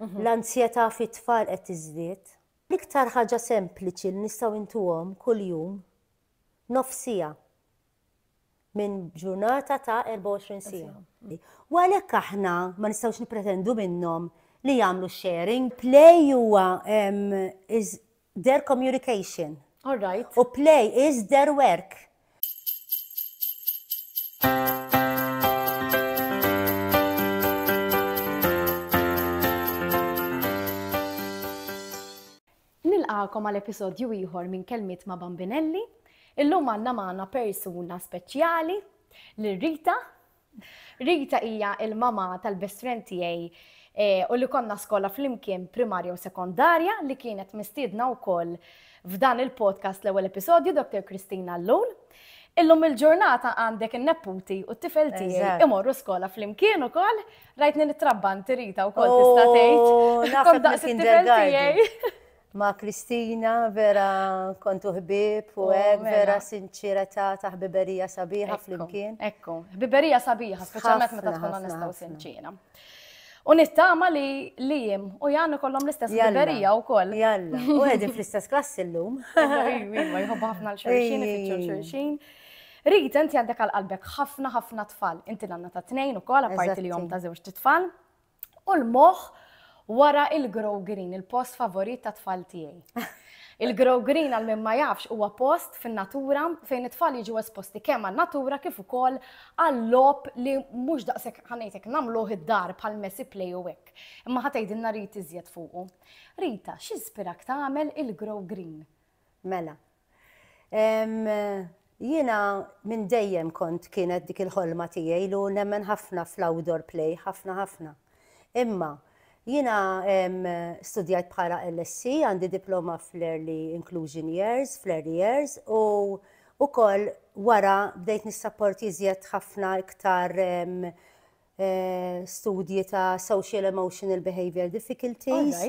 Mhm. L-anzjetà fit-tfal qed tiżdied. L-iktar ħaġa sempliċi li nistgħu intuhom kuljum nofsija minn ġurnata ta' 24 sija. U għalhekk aħna ma nistgħux nippretendu minnhom li jagħmlu sharing. Play huwa Their communication. All right. U play is their work. Nilqakom għal episodju ieħor minn kelmiet ma' Bambinelli. Illum għandna magħna persuna speċjali li Rita Rita hija il-mama tal-best friend tiegħi u li konna skola flimkien primarja u sekondarja li kienet mistiedna wkoll f'dan il-podcast l-ewwel episodju Dr. Kristina Llul. Illum il-ġurnata għandek in-nepputi u t-tifel tiegħi imorru skola flimkien ukoll, rajtni nitrabban tirita wkoll tista' tgħid. Oh, Kont daqs it-tifel tiegħi. Ma' Kristina vera kontu ħbieb u hekk mela. vera sinċiretà ta' ħbiberija sabiħa flimkien. Ekku, ħbiberija sabiħa, speċjalment meta tkun onesta u sinċiera. U nittama li li jim u jannu kollom l-istess liberija u koll. Jalla, u għedin fl-istess klassi l-lum. Iva, jħobba ħafna l-xurxin, ifittxu l-xurxin. Rita, inti għandek għal-qalbek ħafna ħafna tfal. Inti nanna ta' tnejn u koll, għaparti li jom ta' zewġ tfal. u l-moħħ wara il-Grow Green, il-post favorit tat-tfal tiegħi. Il-Grow Green għal min ma jafx huwa post fin-natura fejn it-tfal jiġu esposti kemm għan-natura kif ukoll għal-logħob li mhux daqshekk ħanejtek nagħmluh id-dar bħal messy play u hekk. Imma ħatejdilna Rit iżjed fuqu. Rita, x'inspirak tagħmel il-Grow Green? Mela, Jiena minn dejjem kont kienet dik il-ħolma tiegħi lu nemmen ħafna fl-outdoor play, ħafna ħafna. Imma jiena studjajt bħala LSC, għandi diploma fl-Early Inclusion Years, fl-Early Years, u ukoll wara bdejt nissapporti iżjed ħafna iktar studji ta' social emotional behavior difficulties.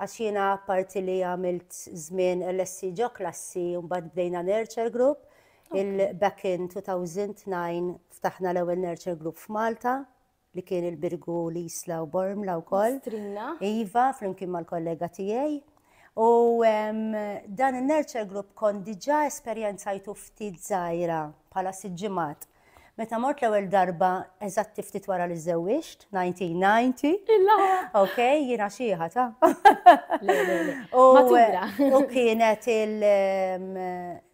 Għax jiena parti li għamilt żmien LSC ġo klassi u mbagħad bdejna nurture group. Il-back in 2009 ftaħna l-ewwel nurture group f'Malta li kien il-Birgu li jisla u Bormla u koll. Strina. Iva, flimkien mal-kollega tijaj. U dan il-nurture group kon diġa esperienzajtu ftit zaħira pala siġimat. Meta mort l-ewwel darba eżatti ftit wara li żewwiġt, 1990. Illa! Ok, jiena xieħa ta'. U kienet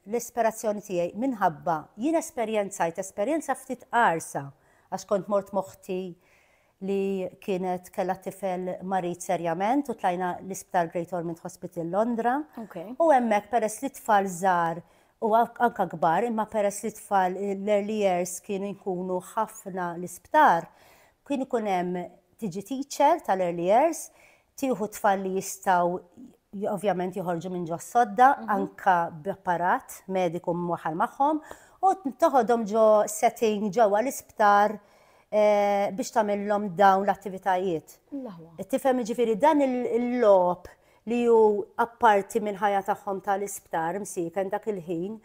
l-ispirazzjoni tiegħi minħabba jien esperjenzajt esperjenza ftit qarsa għax kont mort moħti li kienet kellha tifel marid serjament u tlajna l-Isptar Great Ormond Hospital Londra. U hemmhekk peress li tfal żgħar u anka kbar, imma peress li tfal l-early years kienu jkunu ħafna l-isptar, kien ikun hemm tiġi teacher tal-early years, tieħu tfal li jistgħu ovvjament joħorġu minn ġo sodda, mhm. anka b'apparat mediku mwaħal magħhom, u toħodhom ġo setting ġewwa l-isptar eh, biex tagħmilhom dawn l-attivitajiet. Tifhem ġifieri dan il-lob li ju apparti mill-ħajja tagħhom tal-isptar msiken dak il-ħin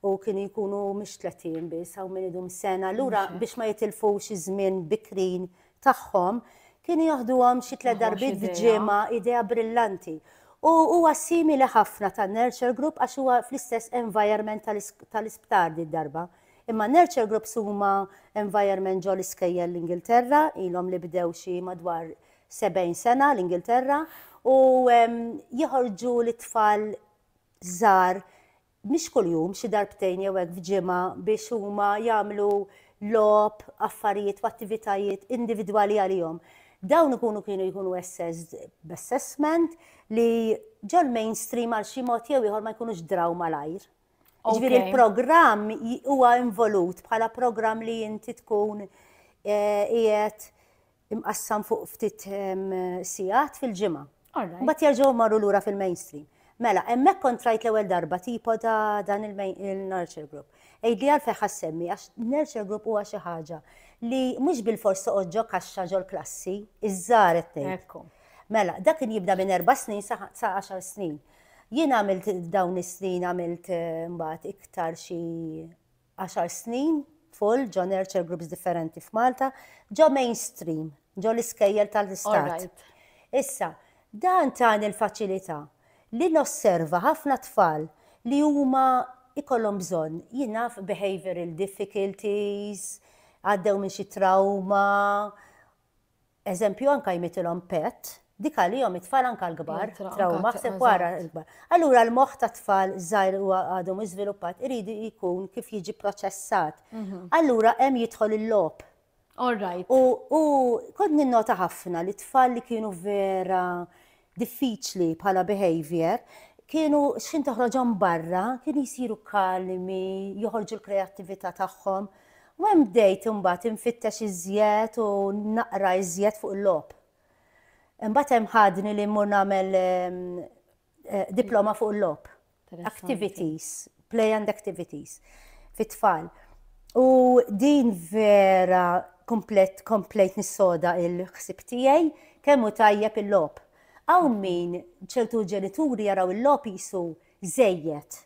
u kienu jkunu mhix 30 biss hawn min idum sena lura biex ma jitilfux iż-żmien bikrin tagħhom kienu joħduhom xi tliet darbiet f'ġimgħa, idea brillanti. U huwa simili ħafna ta' Nurture Group għax huwa fl-istess environment tal-isptar di darba. Imma Nurture Groups huma environment ġo l-iskejjel l-Ingilterra, ilhom li bdew xi madwar 70 sena l-Ingilterra, u jħorġu lit-tfal żgħar mhix kuljum, xi darbtejn jew hekk f'ġimgħa biex huma jagħmlu logħob, affarijiet u attivitajiet individwali għalihom. Dawn ikunu kienu jkunu assessed b'assessment li ġol-mainstream għal xi mod jew ieħor ma jkunux draw malajr. Ġifieri l-programm huwa involut bħala programm li inti tkun eh, qiegħed imqassam fuq ftit sigħat fil-ġimgħa. Mbagħad jerġgħu marru lura fil-mainstream. Mela, hemmhekk kontrajt l-ewwel darba tipo ta' dan il-nurture group. Ejdi għal feħ semmi għax nurture group huwa xi ħaġa li mhux bil-fors toqgħod ġo kaxxa ġol klassi, iż-żar qed Mela, dak kien jibda minn erba' snin sa 10 snin. Jien għamilt dawn is-snin għamilt eh, mbagħad iktar xi għaxar snin tful ġo nurture groups differenti f'Malta, ġo mainstream, ġo l-iskejjel tal-istat. Issa, dan tani l-faċilità li nosserva ħafna tfal li huma ikollhom bżonn, jien naf behavioural difficulties, għaddew minn xi trawma, eżempju anka jmitilhom pet, dik għalihom it-tfal anka l-kbar, trawma ħseb wara l-kbar. Allura l-moħħ ta' tfal żgħir u għadhom iżviluppat irid jkun kif jiġi proċessat. Mhm. Allura hemm jidħol il-lob. All right. U kont ninnota ħafna li tfal li kienu vera diffiċli bħala behaviour, kienu xħin toħroġhom barra, kienu jsiru kalmi, joħorġu l-kreattività tagħhom. U hemm bdejt imbagħad infittex iżjed u naqra iżjed fuq il-logħob. Imbagħad hemm ħadni li mmur nagħmel diploma fuq il-logħob. activities, play and activities fit-tfal. U din vera komplet, komplet nissoda il-ħsib tiegħi kemm hu tajjeb il-lob. Għaw min ċertu ġenituri jaraw il-lob jisu zejjet.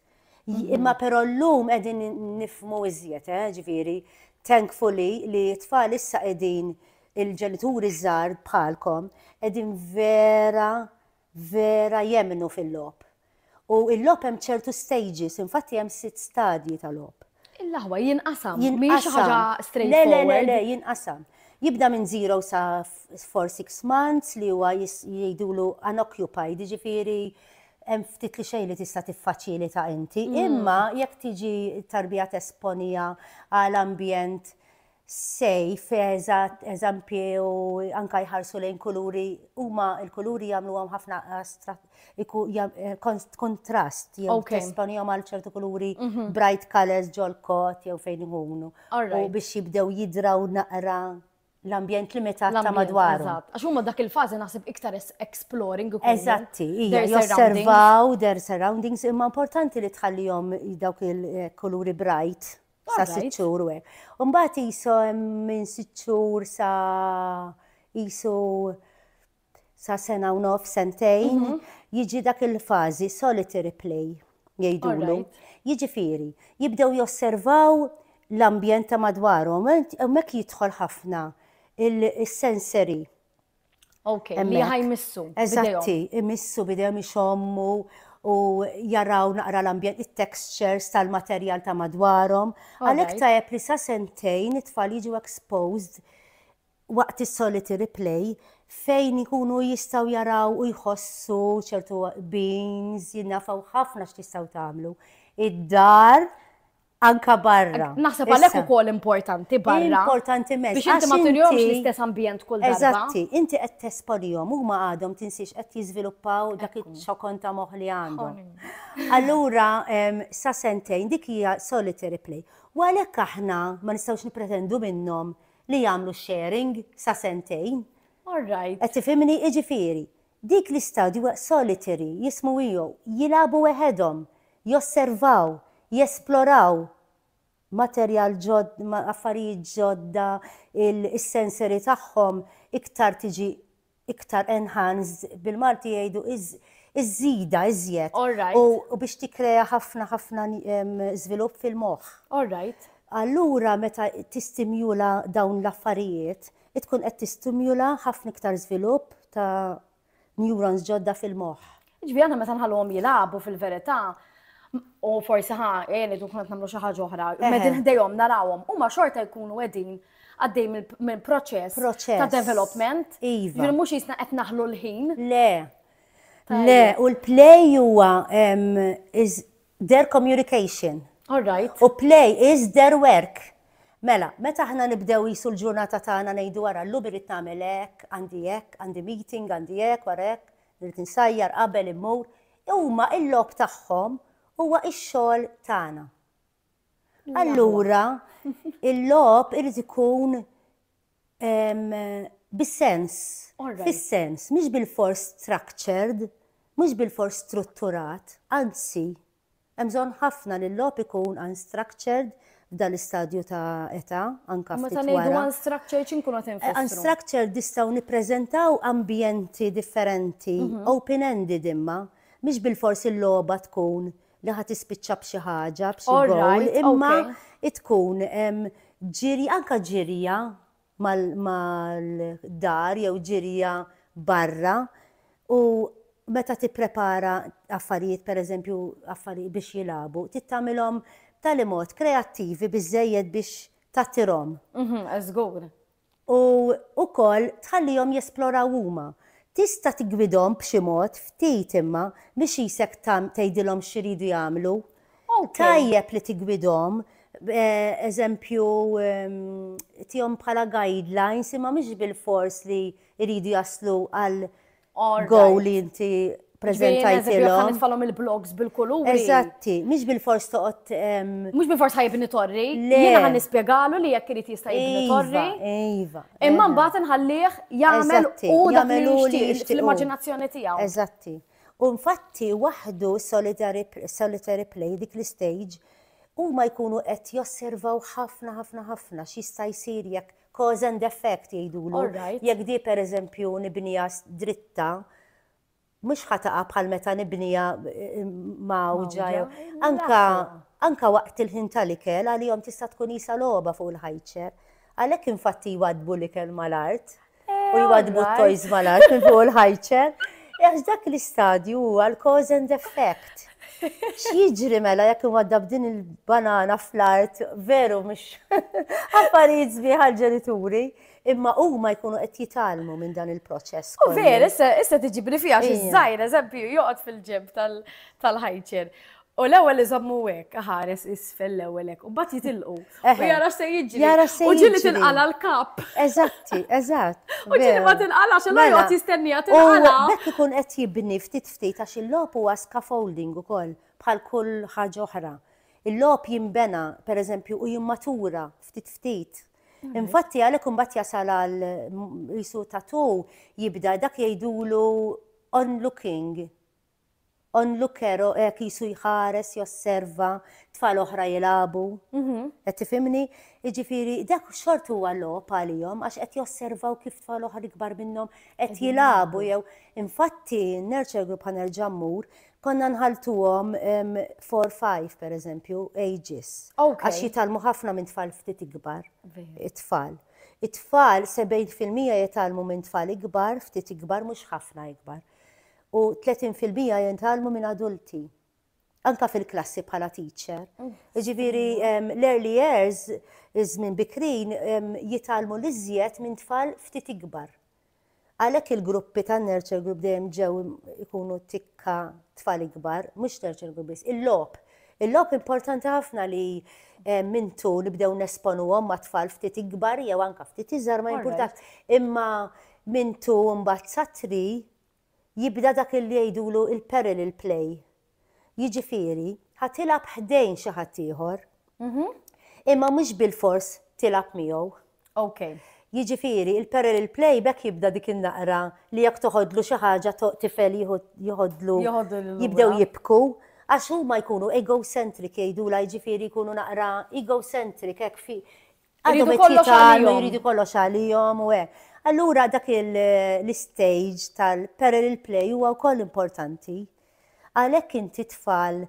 Mhm. Imma però l-lum edin nifmu iżjed, eh, ġviri, thankfully li tfal issa edin il-ġenituri żgħar bħalkom edin vera vera jemmnu fil-logħob. U l-logħob hemm ċertu stages, infatti hemm sitt stadji ta' logħob. Il-aħwa jinqasam, mhijiex xi ħaġa straight forward. Le, le, le, le, jinqasam. Jibda minn zero sa for six months li huwa jgħidulu unoccupied, jiġifieri hemm ftit li xejn li tista' tiffaċilita inti. Mm. Imma jekk tiġi tarbija tesponija għal ambjent safe, eżatt, eżempji u anke jħarsu lejn kuluri, huma l-kuluri jagħmluhom ħafna kontrast jew tesponihom għal ċertu kuluri bright colors ġol-kot jew fejn ikunu. U biex jibdew jidraw naqra l-ambjent limitat ta' madwar. Għax huma dak il-fażi naħseb iktar exploring. Eżatti, josservaw their surroundings imma importanti li tħallihom dawk il-kuluri bright sa sitt xhur u hekk. U mbagħad qisu minn sitt xhur sa qisu sa sena u nof, sentejn, mhm. jiġi dak il-fażi solitary play jgħidulu. Jiġifieri, jibdew josservaw l-ambjent ta' madwarhom, hemmhekk jidħol ħafna il-sensory Ok, li ħajmissu. Eżatti, imissu bidejhom ixommu u jaraw naqra l-ambjent, il-textures tal-materjal ta' madwarhom. Għalhekk tajjeb li sa sentejn it-tfal jiġu exposed waqt is-solitary play fejn ikunu jistaw jaraw u jħossu ċertu beans, jinnafaw ħafna x'tistaw tagħmlu. Id-dar anka barra. Naħseb għalhekk ukoll importanti barra. Importanti mezz. Biex inti ma tirjomx l-istess ambjent kull darba. Eżatti, inti qed tesponihom huma għadhom tinsiex qed jiżviluppaw dak iċ-ċokon ta' moħħ li għandhom. Allura sa sentejn dik hija solitary play. U għalhekk aħna ma nistgħux nippretendu minnhom li jagħmlu sharing sa sentejn. All right. Qed tifhimni jiġifieri. Dik l-istadju hija solitary, jismu Io, jilagħbu weħedhom, josservaw, jesploraw materjal ġod, affarijiet ġodda, is-sensory tagħhom iktar tiġi iktar enhanced, bil-Malti jgħidu iż-żida iżjed. All right. U biex tikkrea ħafna ħafna żvilupp fil-moħħ. All right. Allura meta tistimjula dawn l-affarijiet, tkun qed tistimula ħafna iktar żvilupp ta' neurons ġodda fil-moħħ. Ġifieri aħna meta nħalluhom jilagħbu fil-verità, u forsi ħa għeni tkun qed nagħmlu xi ħaġa oħra, qegħdin ħdejhom narawhom, huma xorta jkunu qegħdin għaddej minn proċess ta' development. Iva. Ġifieri mhux jisna qed naħlu l-ħin. Le. Le, u l-play huwa their communication. All right. U play is their work. Mela, meta aħna nibdew qisu l-ġurnata tagħna ngħidu ara llum irrid nagħmel hekk, għandi hekk, għandi meeting, għandi hekk, wara hekk, irrid insajjar qabel immur, huma il-logħob tagħhom huwa x-xogħol tagħna. Allura, il-logħob irid ikun Bis-sens. Fis-sens, mhix bilfors structured, mhux bilfors strutturat, anzi, hemm bżonn ħafna li l-logħob ikun unstructured f'dan l-istadju ta' età, anke ftit wara. Meta ngħidu unstructured x'inkunu qed infissru? Unstructured nistgħu nippreżentaw ambjenti differenti, mhm. open-ended imma, mhix bilfors il-logħba tkun li ħa tispiċċa b'xi ħaġa, b'xi All goal, right, imma okay. tkun em, ġirja, anka ġirja mal- mal-dar jew ġirja barra u meta tipprepara affarijiet, per eżempju, affarijiet biex jilabu, tittamilhom tal-imod kreattivi biżejjed biex tattirhom. Mhm, Żgur. u wkoll tħallihom jesploraw huma. Tista' tiggwidhom b'xi mod, ftit imma, mhix qisek tgħidilhom x'iridu jagħmlu. Tajjeb li tiggwidhom, eżempju, tihom bħala guidelines imma mhux bilfors li jridu jaslu għal Go li inti prezentajtilhom. Nitfalhom il-blogs bil-kuluri. Eżatti, mhix bil-fors toqgħod. Mhux bil-fors ħajbni torri. Jiena ħan nispjegalu li jekk irid jista' jibni iva, torri. Iva. Imma mbagħad inħallih jagħmel u jagħmel u li jixtieq l-immaġinazzjoni tiegħu. Eżatti. U infatti waħdu solitary play dik l-istage huma jkunu qed josservaw ħafna ħafna ħafna x'jista' jsir jekk Cause and effect jgħidulu. All right. Jekk di pereżempju nibniha s- dritta, mhux ħa taqa' bħal meta nibniha eh, mgħawġa jew. Mgħawġa, Anka, l-aħwa. anka waqt il-ħin tal-ikel għalihom tista' tkun qisha logħba fuq il-ħajċer. Għalhekk infatti jwaddbu l-ikel mal-art u jwaddbu all right. t-toys mal-art minn fuq il-ħajċer. Għax dak l-istadju huwa l-cause and effect. X'jiġri mela jekk inwaddab din il-banana fl-art veru mhux affarijiet sbieħ għall-ġenituri, imma huma jkunu qed jitgħallmu minn dan il-proċess. U veru, issa tiġibli fiha xi żgħir eżempju joqgħod fil-ġenb tal-ħajċer. U l-ewwel iżommu hekk, ħares isfel l-ewwel hekk, u mbagħad jitilqu. U jara se jiġri. Jara se jiġri. U ġieli tinqala l-kap. Eżatti, eżatt. U ġieli ma tinqala xi ma mela, joqgħod jistenniha tinqala. Bekk ikun qed jibni ftit ftit għax il-logħob huwa scaffolding ukoll bħal kull ħaġa oħra. Il-logħob jinbena, pereżempju, u jimmatura ftit ftit. Infatti għalhekk imbagħad jasal għal qisu tatu jibda dak jgħidulu onlooking. Onlooker hekk jisu jħares, josserva, tfal oħra jilagħbu. Mhm. Qed tifhimni? Jiġifieri dak xort huwa logħob għalihom għax qed josservaw kif tfal oħra ikbar minnhom qed jilagħbu jew infatti n-nurture group ħa nerġa' mmur konna nħaltuhom 4-5 per eżempju ages. Għax jitalmu ħafna minn tfal ftit ikbar. It-tfal. It-tfal 70% jitalmu minn tfal ikbar, ftit ikbar, mhux ħafna ikbar. U 30% jintalmu minn adulti. anka fil-klassi bħala teacher. Ġifieri l-early years, iż-żmien bikrin, jitalmu l-iżjed minn tfal ftit ikbar. Għalhekk il-gruppi tan-nurture group dejjem ġew ikunu tikka tfal ikbar, mhux nurture group biss, il-logħob. Il-logħob importanti ħafna li minn tu nibdew nesponuhom ma' tfal ftit ikbar jew anka ftit iżgħar ma jimpurtax. Imma minn tu mbagħad satri jibda dak illi jgħidulu l-parallel play. Jiġifieri, ħa tilgħab ħdejn xi ħadd ieħor, imma mhux bilfors tilgħab miegħu. Jiġifieri, il-parallel play b'hekk jibda dik in-naqra li jekk toħodlu xi ħaġa tifel joħodlu jibdew jibku għax huma jkunu egocentric jgħidulha jiġifieri jkunu naqra egocentric hekk fi Għadhom it-tlieta għandhom jridu kollox għalihom u hekk. Allura dak l-istage tal-parallel play huwa wkoll importanti. Għalhekk inti tfal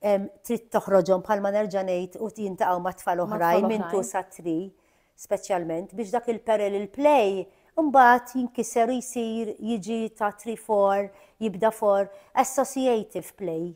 trid toħroġhom bħalma nerġa' ngħid u jintaqgħu ma' tfal oħrajn minn tu sa tri speċjalment biex dak il-parallel play Mbagħad jinkiser jsir jiġi ta' 3-4, jibda for associative play.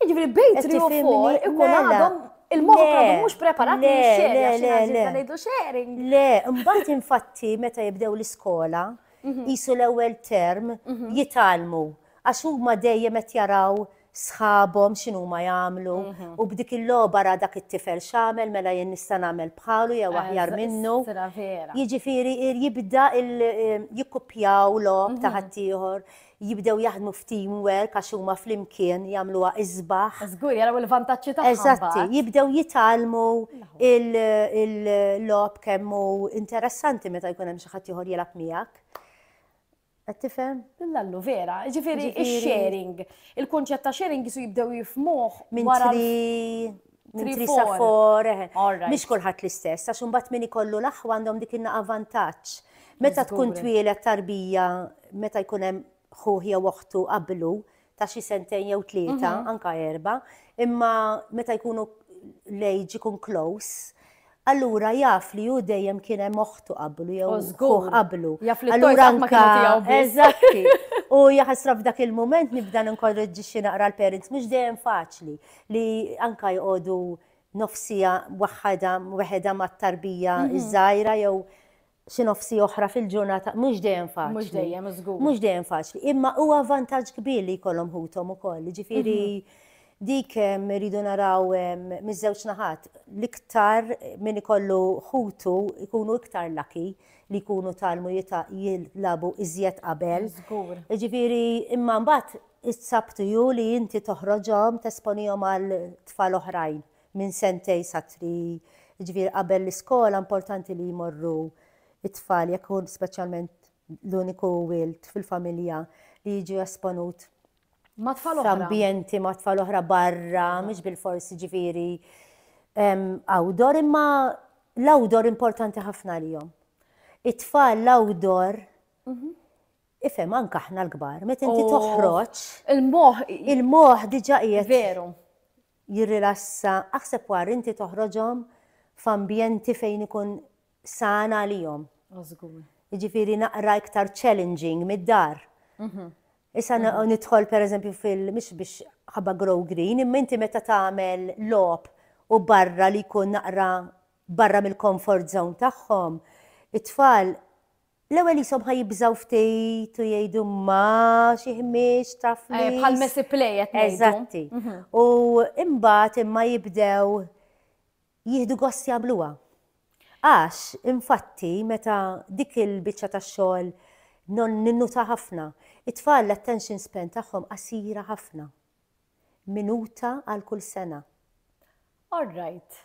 Jiġifieri bejn 3 u 4 ikun mela. għadhom il-moħħ mela. għadu mhux preparat li xeri għax għażilna ngħidu sharing. Le, mbagħad infatti meta jibdew l-iskola, mhm. jisu l-ewwel term mhm. jitalmu għax huma dejjem qed jaraw sħabhom x'inhu ma jagħmlu mhm. u b'dik il-logħba ra dak it-tifel x'għamel mela jien nista' nagħmel bħalu jew eh, aħjar minnu. Jiġifieri jibda jikkuppjaw logħob ta' mhm. ħaddieħor. jibdew jaħdmu f'team work għax huma flimkien jagħmluha isbaħ. Żgur jaraw il-vantaġġi tagħha. Eżatti, jibdew jitgħallmu il-logħob kemm hu interessanti meta jkun hemm xi ħadd ieħor jilgħab miegħek. Qed tifhem? Lallu vera, ġifieri sharing Il-kunċett ta' sharing jisu jibdew jifmuh minn wara Minn Three, trisa four. for, eħe. All right. Mhix kulħadd l-istess, għax imbagħad min ikollu l-aħwa għandhom dik in-naqa vantaġġ. Meta tkun Jiżgura. twieled tarbija, meta jkun hemm ħuh jew oħtu qablu ta' xi sentejn jew tlieta, anka erba, imma meta jkunu l-age ikun close, Allura jaf li hu dejjem kien hemm oħtu qablu jew ħuh qablu. Jaf li allura anka eżatti. U jaħasra f'dak il-mument nibda ninkorreġġixxi naqra l-parents mhux dejjem faċli li anka jqogħdu nofsija waħħada weħeda mat-tarbija mhm. iż-żgħira jew xi nofsi oħra fil-ġurnata, mhux dejjem faċli. Mhux dejjem, żgur. Mhux dejjem faċli, imma huwa vantaġġ kbir li jkollhom ħuthom ukoll, jiġifieri dik irridu naraw miż-żewġ naħat. L-iktar min ikollu ħutu jkunu iktar laki li jkunu talmu jilagħbu iżjed qabel. Żgur. Jiġifieri imma mbagħad is-sabtu ju li inti toħroġhom tesponihom għal tfal oħrajn minn sentejn sa three, jiġifieri qabel l-iskola importanti li jmorru t-tfal jekk hu speċjalment l-uniku wild fil-familja li jiġu esponut ma' tfal oħra. F'ambjenti ma' tfal oħra barra, mhux bil-fors jiġifieri outdoor imma l-outdoor importanti ħafna għalihom. It-tfal l-outdoor mhm. ifhem anke aħna l-kbar, meta inti oh. toħroġ il-moħħ il-moħħ diġà qiegħed. Veru. jirrilassa, aħseb war inti toħroġhom f'ambjenti fejn ikun san għalihom. Jiġifieri naqra iktar challenging mid-dar. Mhm. Issa nidħol pereżempju fil mhux biex ħabba grow green, imma inti meta tagħmel lob u barra li jkun naqra barra mill-comfort zone tagħhom, it-tfal L-ewwel ishom ħa jibżgħu ftit u jgħidu ma xi ħmieġ taf eh, li. Bħal messi play qed Eżatti. Mhm. U imbagħad imma jibdew jieħdu gost jagħmluha. Għax, infatti, meta dik il-biċċa ta' xogħol non ninnuta ħafna, it-tfal l-attention span tagħhom qasira ħafna. Minuta għal kull sena. All right.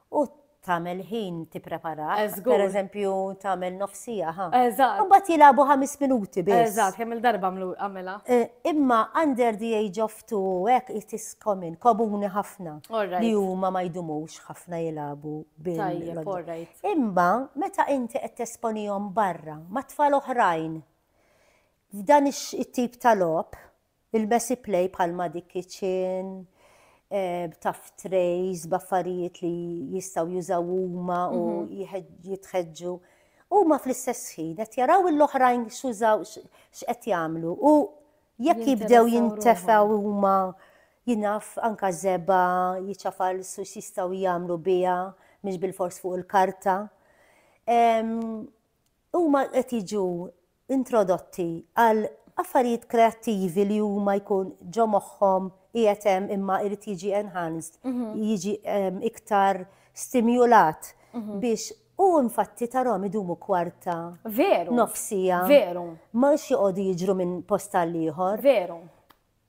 U tagħmel ħin tipprepara. Per eżempju, tagħmel nofs siegħa ħa. Eżatt. Imbagħad jilagħbu ħames minuti biss. Eżatt, kemm il-darba għamlu għamela. Eh, imma under the age of two hekk it is common, komuni ħafna. Li huma ma jdumux ħafna jilagħbu bil. Tajjeb, all right. Imma meta inti qed tesponihom barra ma' tfal oħrajn f'dan it-tip ta' logħob, Ilbesi play bħal ma' dik kitchen, b'tuff trays, b'affarijiet li jistgħu jużaw huma u jitħeġġu. Huma fl-istess ħin qed jaraw l-oħrajn x'użaw x'qed jagħmlu u jekk jibdew jintefgħu huma jinaf anka żebgħa, jiċafal su x'jistgħu jagħmlu biha mhix bilfors fuq il-karta. Huma qed jiġu introdotti għal affarijiet kreattivi li huma jkun ġo moħħhom qiegħed hemm imma jrid jiġi enhanced, jiġi iktar stimjulat biex u infatti tarhom idumu kwarta. Veru. Nofsija. Veru. Ma joqogħdu jiġru minn post għal ieħor. Veru.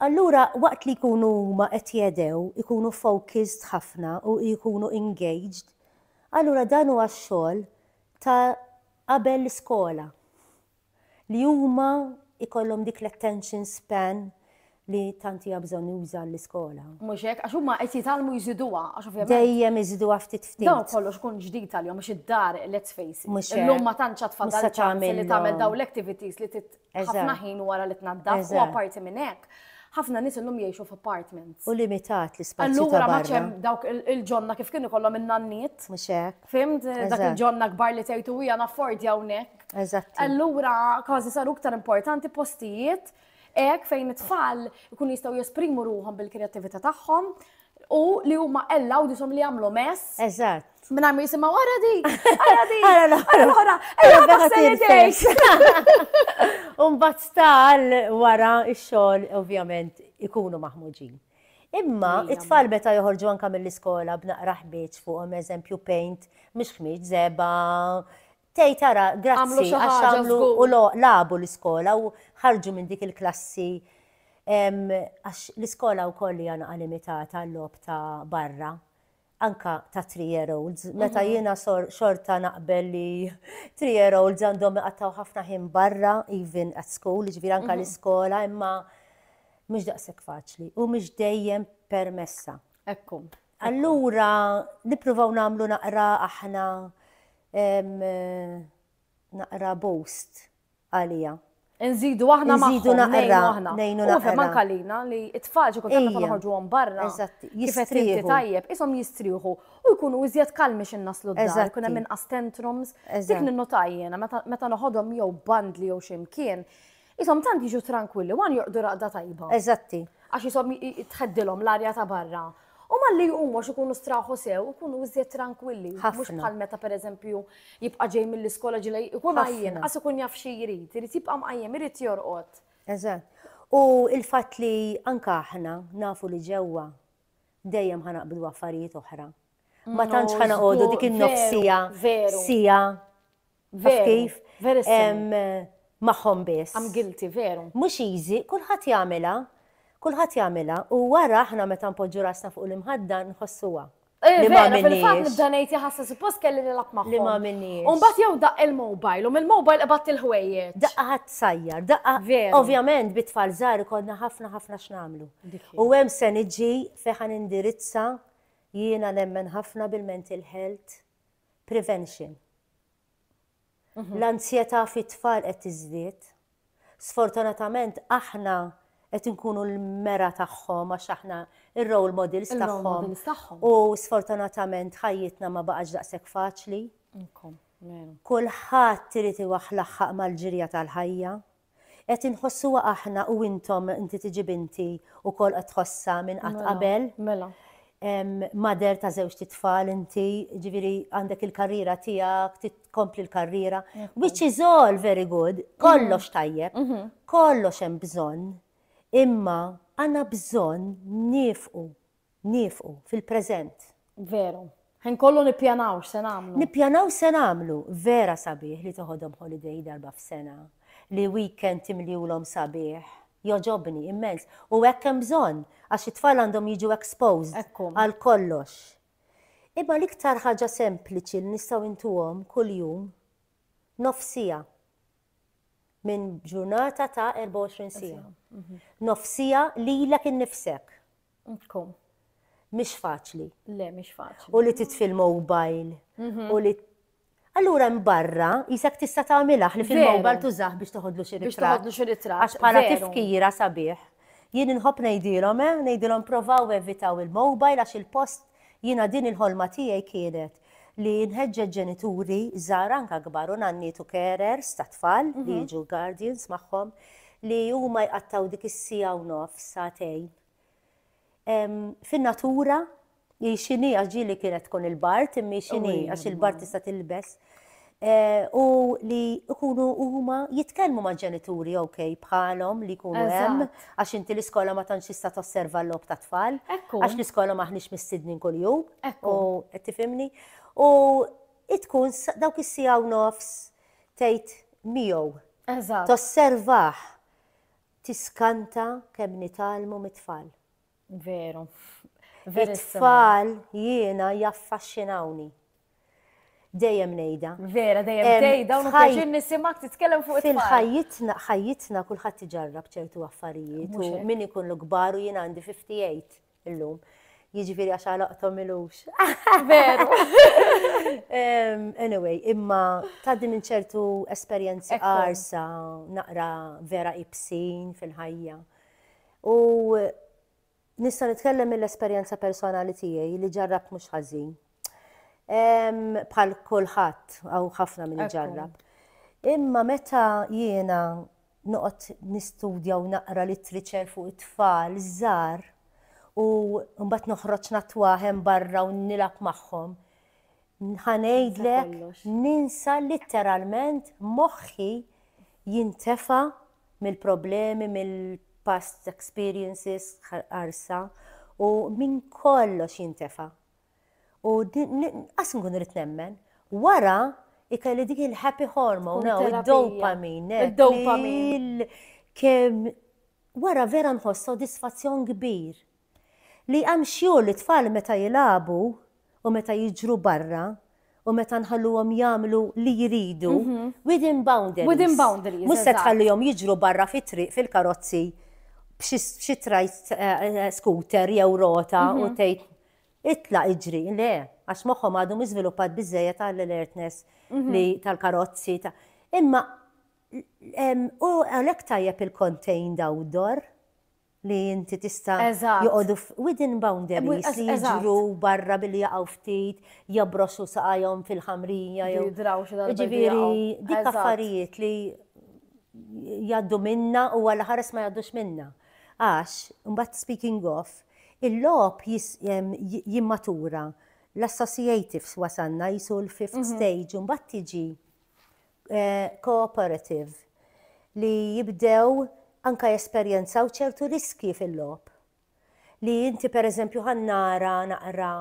Allura, waqt li jkunu huma qed jedew, ikunu focused ħafna u jkunu engaged, allura dan huwa x-xogħol ta' qabel l-iskola li huma jkollhom dik l-attention span li tant hija bżonjuża għall-iskola. Mhux hekk, għax huma qed jitgħallmu jżiduha, għax ovvjament. Dejjem iżiduha ftit ftit. Dawn kollox kun ġdid għalihom għax id-dar, let's face it. Mhux hekk. Illum ma tantx għad fadal ċans li tagħmel dawn l-activities li trid ħafna ħin wara li tnaddaf u apparti minn hekk, ħafna nies illum jgħixu f'apartments. U limitat l-ispazju ta' barra. Allura ma tantx hemm dawk il-ġonna kif kienu jkollhom in-nanniet. Mhux hekk. Fimt, dak il-ġonna kbar li tgħidu hija naffordi hawnhekk. Eżatt. Allura kważi saru iktar importanti postijiet hekk fejn it-tfal ikun jistgħu jesprimu ruhom bil-kreattività tagħhom u li huma ellaw disom li jagħmlu mess. Eżatt. Minna mi jisima wara di, wara di, wara l-ħora, wara l-ħora. Umbat sta wara il-xol, ovvjament, ikunu maħmuġin. Imma it-tfal meta joħorġu anka mill-iskola b'naqra ħbieġ fuqhom eżempju paint, mhux ħmieġ zeba, tej tara grazzi għax għamlu u labu l-iskola u ħarġu minn dik il-klassi għax l-iskola wkoll hija naqa' limitata l-lob ta' barra. anka ta' three year olds, meta mhm. jiena xorta naqbel li three year olds għandhom iqattaw ħafna ħin barra, even at school, ġviri anka mhm. l-iskola, imma mhux daqshekk faċli u mhux dejjem permessa. Ekku. Allura nippruvaw nagħmlu naqra aħna naqra boost għalija. Nżidu aħna ma nżidu naqra aħna. Nejnu naqra. Ufem anka lina li it-tfal xi kultant meta noħorġuhom barra. Eżatt. Jistrieħu. Tajjeb, ishom jistrieħu u jkunu iżjed kalmi xi naslu d-dar, kun hemm inqas tantrums. Dik ninnotaj jiena meta noħodhom jew bandli jew xi mkien. Ishom tant jiġu trankwilli, wan joqdu raqda tajba. Eżatti. Għax ishom tħeddilhom l-arja ta' barra. U malli jqumu għax ikunu straħu sew, ikunu iżjed tranquilli. Mhux bħal meta pereżempju jibqa' ġej mill-iskola ġilej ikun għajjen, qas ikun jaf xi jrid, irid jibqa' mqajjem, irid jorqod. Eżatt. U l-fatt li anke aħna nafu li ġewwa dejjem ħa naqbdu affarijiet oħra. Ma tantx ħa noqogħdu dik in-nofs siegħa, siegħa. Veru, kif? Magħhom biss. Am guilty, veru. Mhux easy, kulħadd jagħmilha. Kulħadd jagħmilha u wara aħna meta npoġġu rasna fuq l-imħadda nħossuha. Eh, li ma fil-fatt nibda ngħid jaħassa suppost kelli nilgħab magħhom. Li ma minniex. U mbagħad jew daqq il-mobile u mill-mobile ibatt il-ħwejjeġ. Daqqa ħadd sajjar, daqqa. Veru. Ovvjament bit-tfal żgħar ikollna ħafna ħafna x'nagħmlu. U hemm se niġi fejn indirizza jiena nemmen ħafna bil-mental health Prevention. Mhm. L-anzjetà fit-tfal qed tiżdied. Sfortunatament aħna qed inkunu l-mera tagħhom għax aħna ir-role models tagħhom. U sfortunatament ħajjitna ma baqax daqshekk faċli. Kulħadd irid iwaħ laħħaq mal-ġirja tal-ħajja. Qed inħossuha aħna u intom, inti tiġib inti wkoll qed tħossha minn qatt qabel. Mela. Mother ta' żewġt itfal inti, ġifieri għandek il-karriera tiegħek, tkompli l-karriera. Which is all very good, kollox tajjeb, mhm. kollox hemm bżonn, imma għandna bżonn nifqu Niefqu, fil-preżent. Veru. Ħin kollu nippjanaw x'se nagħmlu. Nippjanaw x'se nagħmlu. Vera sabiħ li toħodhom holiday darba f'sena. Li weekend timliulhom sabiħ. Jogħġobni, immens. U hekk hemm bżonn, għax it-tfal għandhom jiġu exposed. Hekk hu. Għal kollox. Imma l-iktar ħaġa sempliċi li nistgħu intuhom kuljum, nofs siegħa minn ġurnata ta' 24 siegħa. Nofs siegħa lilek innifsek. Tkun. Mhix faċli. Le, mhix faċli. U li titfi l-mobile. Mhm. U li Allura mbarra, jisak tista' tagħmilha li fil-mobile tużah biex toħodlu xi Biex toħodlu xi ritratt. Għax bħala tifkira sabiħ. Jien inħobb ngħidilhom, eh, ngħidilhom provaw evitaw il-mobile għax il-post jiena din il-ħolma tiegħi kienet li nħeġġeġ ġenituri żgħar anke kbar u nanniet u carers ta' tfal li jiġu guardians magħhom li huma jqattgħu dik is-siegħa u nofs, sagħtejn fin-natura hi x'inhi għax ġieli kienet tkun il-bard imma hi x'inhi għax il-bard tista' tilbes u li jkunu huma jitkellmu ma' ġenituri ok bħalhom li jkunu hemm għax inti l-iskola ma tantx tista' tosserva l-logħob ta' tfal. Għax l-iskola maħniex mistidnin kuljum. U qed tifhimni? U tkun dawk is-siegħa u nofs tgħid miegħu. Tosservah tiskanta kemm nitgħallmu mit-tfal. Veru. It-tfal jiena jaffaxxinawni. Dejjem ngħidha. Vera, dejjem ngħidha u nħajjin nisimak titkellem fuq it-tfal. Fil-ħajjitna, ħajjitna kulħadd iġarrab ċertu affarijiet u min ikun l-kbar u jien għandi 58 illum. Jiġifieri għax għalaqthom ilux. Veru. Anyway, imma tgħaddi minn ċertu esperjenzi qarsa naqra vera ibsin fil-ħajja. U nista' nitkellem mill-esperjenza personali tiegħi li ġarrabt mhux ħażin. Bħal kulħadd hawn ħafna min iġarrab. Imma meta jiena noqgħod nistudja u naqra littriċer fuq it-tfal żgħar u mbagħad noħroġ natwa hemm barra u nilgħab magħhom, ħa ngħidlek ninsa litteralment moħħi jintefa' mill-problemi, mill-past experiences qarsa u minn kollox jintefa'. U qas nkun rrid nemmen. Wara ikelli dik il-happy hormone, id-dopamine. Id-dopamine. Kemm wara vera nħoss sodisfazzjon kbir. Li jqammxxu lit-tfal meta jilagħbu u meta jiġru barra u meta nħalluhom jagħmlu li jridu within boundaries. Within boundaries. Mhux se tħallihom jiġru barra fit-triq fil-karozzi b'xi tri-scooter jew rota u tgħid itlaq iġri. Le, għax moħħhom għadu mhux żviluppat biżżejjed għall-alertness li tal-karozzi. Imma hu għalhekk tajjeb il-contained outdoor. li inti tista' joqogħdu within boundaries li jiġru barra billi jaqgħu ftit, jabrosu saqajhom fil-ħamrija jew. Jiġifieri dik affarijiet li jgħaddu minna u għal ħares ma jgħaddux minna. Għax, imbagħad speaking of, il-logħob jimmatura l-associatives wasanna jisu l-fifth stage u mbagħad tiġi cooperative li jibdew anke jesperjenzaw ċertu riskji fil-logħob. Li inti pereżempju ħa nara naqra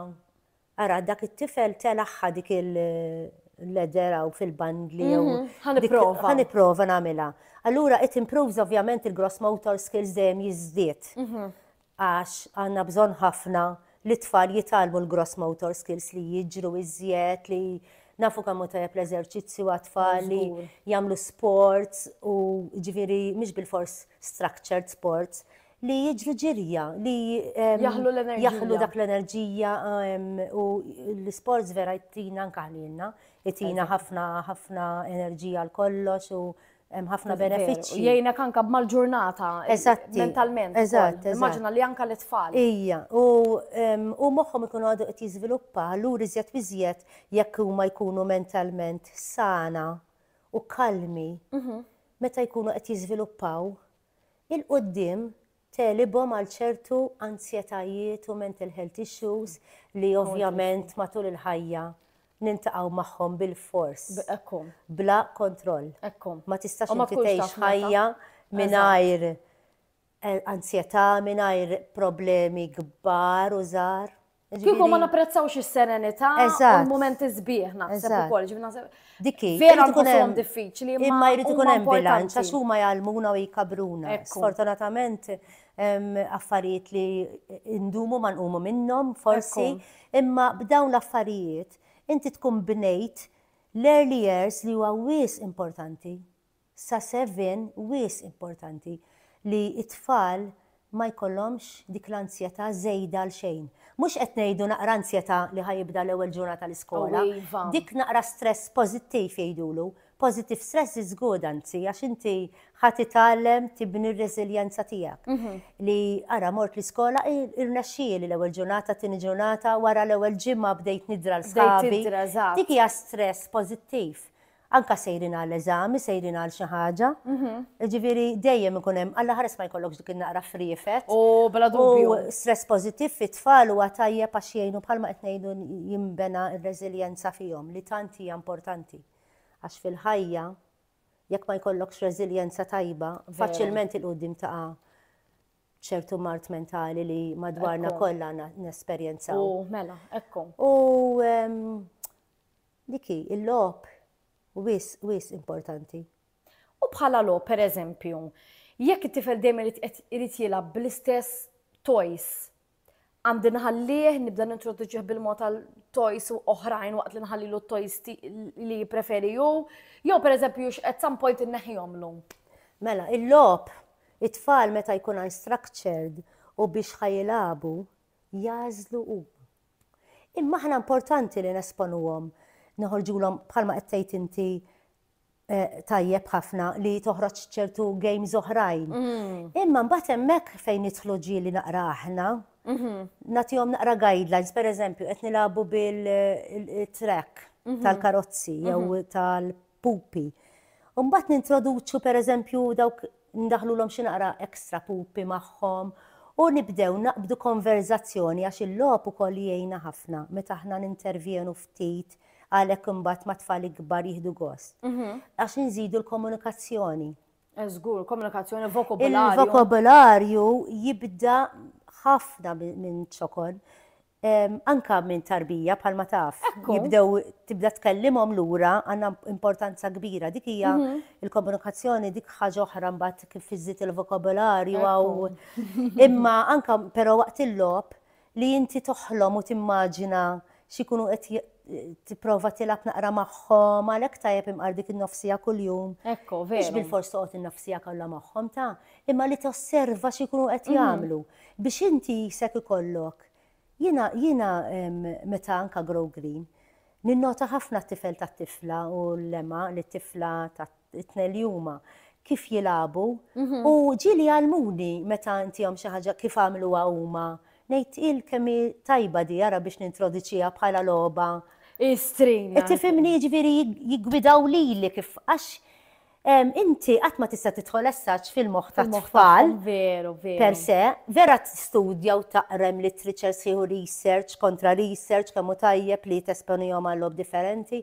ara dak it-tifel telaħħa dik il-ledder hawn fil-bandli jew mhm, ħa nipprova. Ħa nipprova nagħmilha. Allura it improves ovvjament il-gross motor skills dejjem jiżdied. Mhm. Għax għandna bżonn ħafna li t-tfal jitgħallmu l-gross motor skills, li jiġru iżjed, li nafu kemm hu tajjeb l-eżerċizzju għat-tfal li jagħmlu sports u jiġifieri mhux bilfors structured sports, li jiġru ġirja, li jaħlu dak l-enerġija u l-isports vera jtina anke ħlielna, jtina ħafna enerġija għal kollox u hemm ħafna benefiċċji. Jgħinek anka mal-ġurnata. Eżatt. Mentalment. Eżatt. Immaġina li anka l-itfal. Ija, u moħħhom ikunu għadu qed jiżviluppa, allura iżjed biżjed jekk huma jkunu mentalment sana u kalmi mhm. meta jkunu qed jiżviluppaw il-qudiem tegħlibhom għal ċertu anzjetajiet u mental health issues li ovvjament matul il-ħajja niltaqgħu magħhom bilfors, bla kontroll. Ma tistax inti tgħix ħajja mingħajr anzjetà, mingħajr problemi kbar u żgħar. Kieku ma napprezzawx is-serenità u l-momenti sbieħ naħseb ukoll ġibna Dikki, vera tkun hemm diffiċli imma jrid ikun hemm bilanċ għax huma jgħallmuna u jkabruna. Sfortunatament affarijiet li indumu ma nqumu minnhom forsi, imma b'dawn l-affarijiet inti tkun bnejt l-early years li huwa wis importanti. Sa żmien wisq importanti li t-tfal ma jkollhomx dik l-anzjetà żejda għal xejn. Mhux qed ngħidu naqra anzjetà li ħa jibda l-ewwel ġurnata tal-iskola. O iva! Dik naqra stress pożittiv jgħidulu. Positive stress is good anzi għax inti ħa titgħallem tibni r-reżiljenza tiegħek. Li ara mort l-iskola irnexxieli l-ewwel ġurnata, t-tieni ġurnata, wara l-ewwel ġimgħa bdejt nidra l-sħabi. Bdejt tidra, eżatt. Dik hija stress pożittiv. Anke sejrin għal eżami, sejrin għal xi ħaġa. Jiġifieri dejjem ikun hemm, allaħares ma jkollokx dik in-naqra friefet. O, bla dubju. U stress pożittiv fit-tfal huwa tajjeb għax jgħinu bħalma qed ngħidu jinbena r-reżiljenza fihom li tant hija importanti. Għax fil-ħajja jekk ma jkollokx reżiljenza tajba, faċilment il-quddiem taqa' ċertu mart mentali li madwarna kollha nesperjenzaw. U mela, ekku. U Dik hi, il-logħob wisq, wisq importanti. U bħala logħob, per eżempju, jekk it-tifel dejjem irid qed irid jilgħab bl-istess toys, għandi nħallih nibda nintroduċih bil-mod għal toys u oħrajn waqt li nħallilu t-toys li jippreferi hu, jew per eżempju at some point inneħħihomlu. Mela, il-logħob, it-tfal meta jkun unstructured u biex ħajilagħbu, jagħżlu huma. Imma aħna importanti li nesponuhom, noħorġulhom bħalma qed tgħid inti eh, tajjeb ħafna li toħroġ ċertu games oħrajn. Mm. Imma mbagħad hemmhekk fejn nidħlu ġieli naqra aħna, mhm. nagħtihom naqra guidelines, pereżempju qed nilagħbu bil-track eh, mhm. tal-karozzi jew mhm. tal pupi. U mbagħad nintroduċu pereżempju dawk ndaħħlulhom xi naqra extra pupi magħhom u nibdew naqbdu konverżazzjoni għax il-logħob ukoll jgħinna ħafna meta aħna nintervjenu ftit għalhekk imbagħad mat-tfal ikbar jieħdu gost. Għax inżidu l-komunikazzjoni. Eh, żgur, komunikazzjoni vokabularju. Il-vokabularju jibda ħafna minn ċokon. anke minn tarbija bħalma taf, jibdew tibda tkellimhom lura għandha importanza kbira. Dik hija l-komunikazzjoni dik ħaġa oħra mbagħad kif iżżid il-vokabolarju għaw. Imma anke però waqt il-logħob li inti toħlom u timmaġina x'ikunu qed tipprova tilgħab naqra magħhom, għalhekk tajjeb imqar dik in-nofsija kuljum. Ekku, veru. Mhux bilfors toqgħod in-nofsija kollha magħhom ta', imma li tosserva x'ikunu qed jagħmlu biex inti jisek ikollok. Jiena jiena meta anka Grow Green ninnota ħafna t-tifel tat-tifla u l-lema li t-tifla tat-tnejn li huma kif jilagħbu u ġieli jgħallmuni meta ntihom xi ħaġa kif għamluha huma. Ngħid il kemm hi tajba di ara biex nintroduċiha bħala logħba. Hi string. Tifhimni jiġifieri jiggwidaw lili kif għax Inti qatt ma tista' tidħol essaġġ fil-moħħ tat-tfal. Veru, veru. Per se, vera tistudja u taqra hemm literature sħiħ u research kontra research kemm hu tajjeb li tesponihom għal logħob differenti.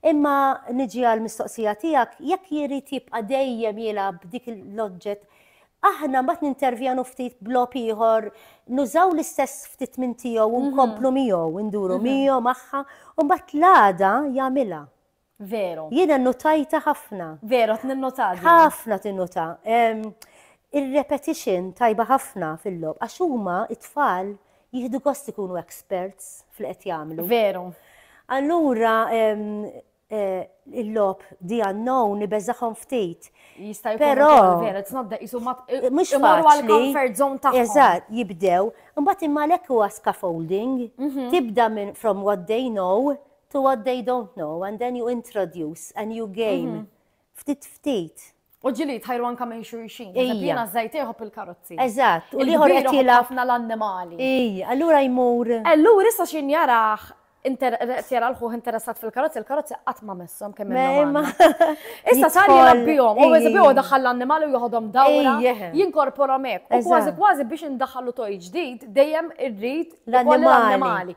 Imma niġi għall-mistoqsija tiegħek, jekk jrid jibqa' dejjem jilgħab b'dik l-oġġett, aħna mbagħad nintervjenu ftit b'logħob ieħor, nużaw l-istess ftit minn tiegħu u nkomplu miegħu, induru miegħu, magħha, u mbagħad l-għada jagħmilha. Veru. Jiena nnutajtha ħafna. Veru, qed ninnota din. Ħafna tinnota. Ir-repetition tajba ħafna fil-logħob għax huma t-tfal jieħdu gost ikunu experts f'li qed jagħmlu. Veru. Allura il-logħob di unknown ibeżagħhom ftit. Jista' jkun Però- ukoll veru, it's not that jisu ma Eh, mhux imorru għal faċli. comfort zone tagħhom. Eżatt, jibdew. Imbagħad imma għalhekk huwa scaffolding. Tibda minn from what they know to what they don't know and then you introduce a new game. Mhm. Ftit ftit. U ġili tħajru anka minn xurxin. Ija. Jena zajt jħob il-karozzi. Eżatt, u liħor qed jilaf. ħafna l-annimali. Ija, allura jmur. Allura issa xin jaraħ jara l-ħuħ interessat fil-karozzi, il-karozzi qatt ma messom kemm imma. Issa sar jirabbihom, u jizbiju daħal l-annimali u joħodhom dawra, jinkorporom hekk. U kważi kważi biex indaħħalu toj ġdid dejjem irrid l-annimali.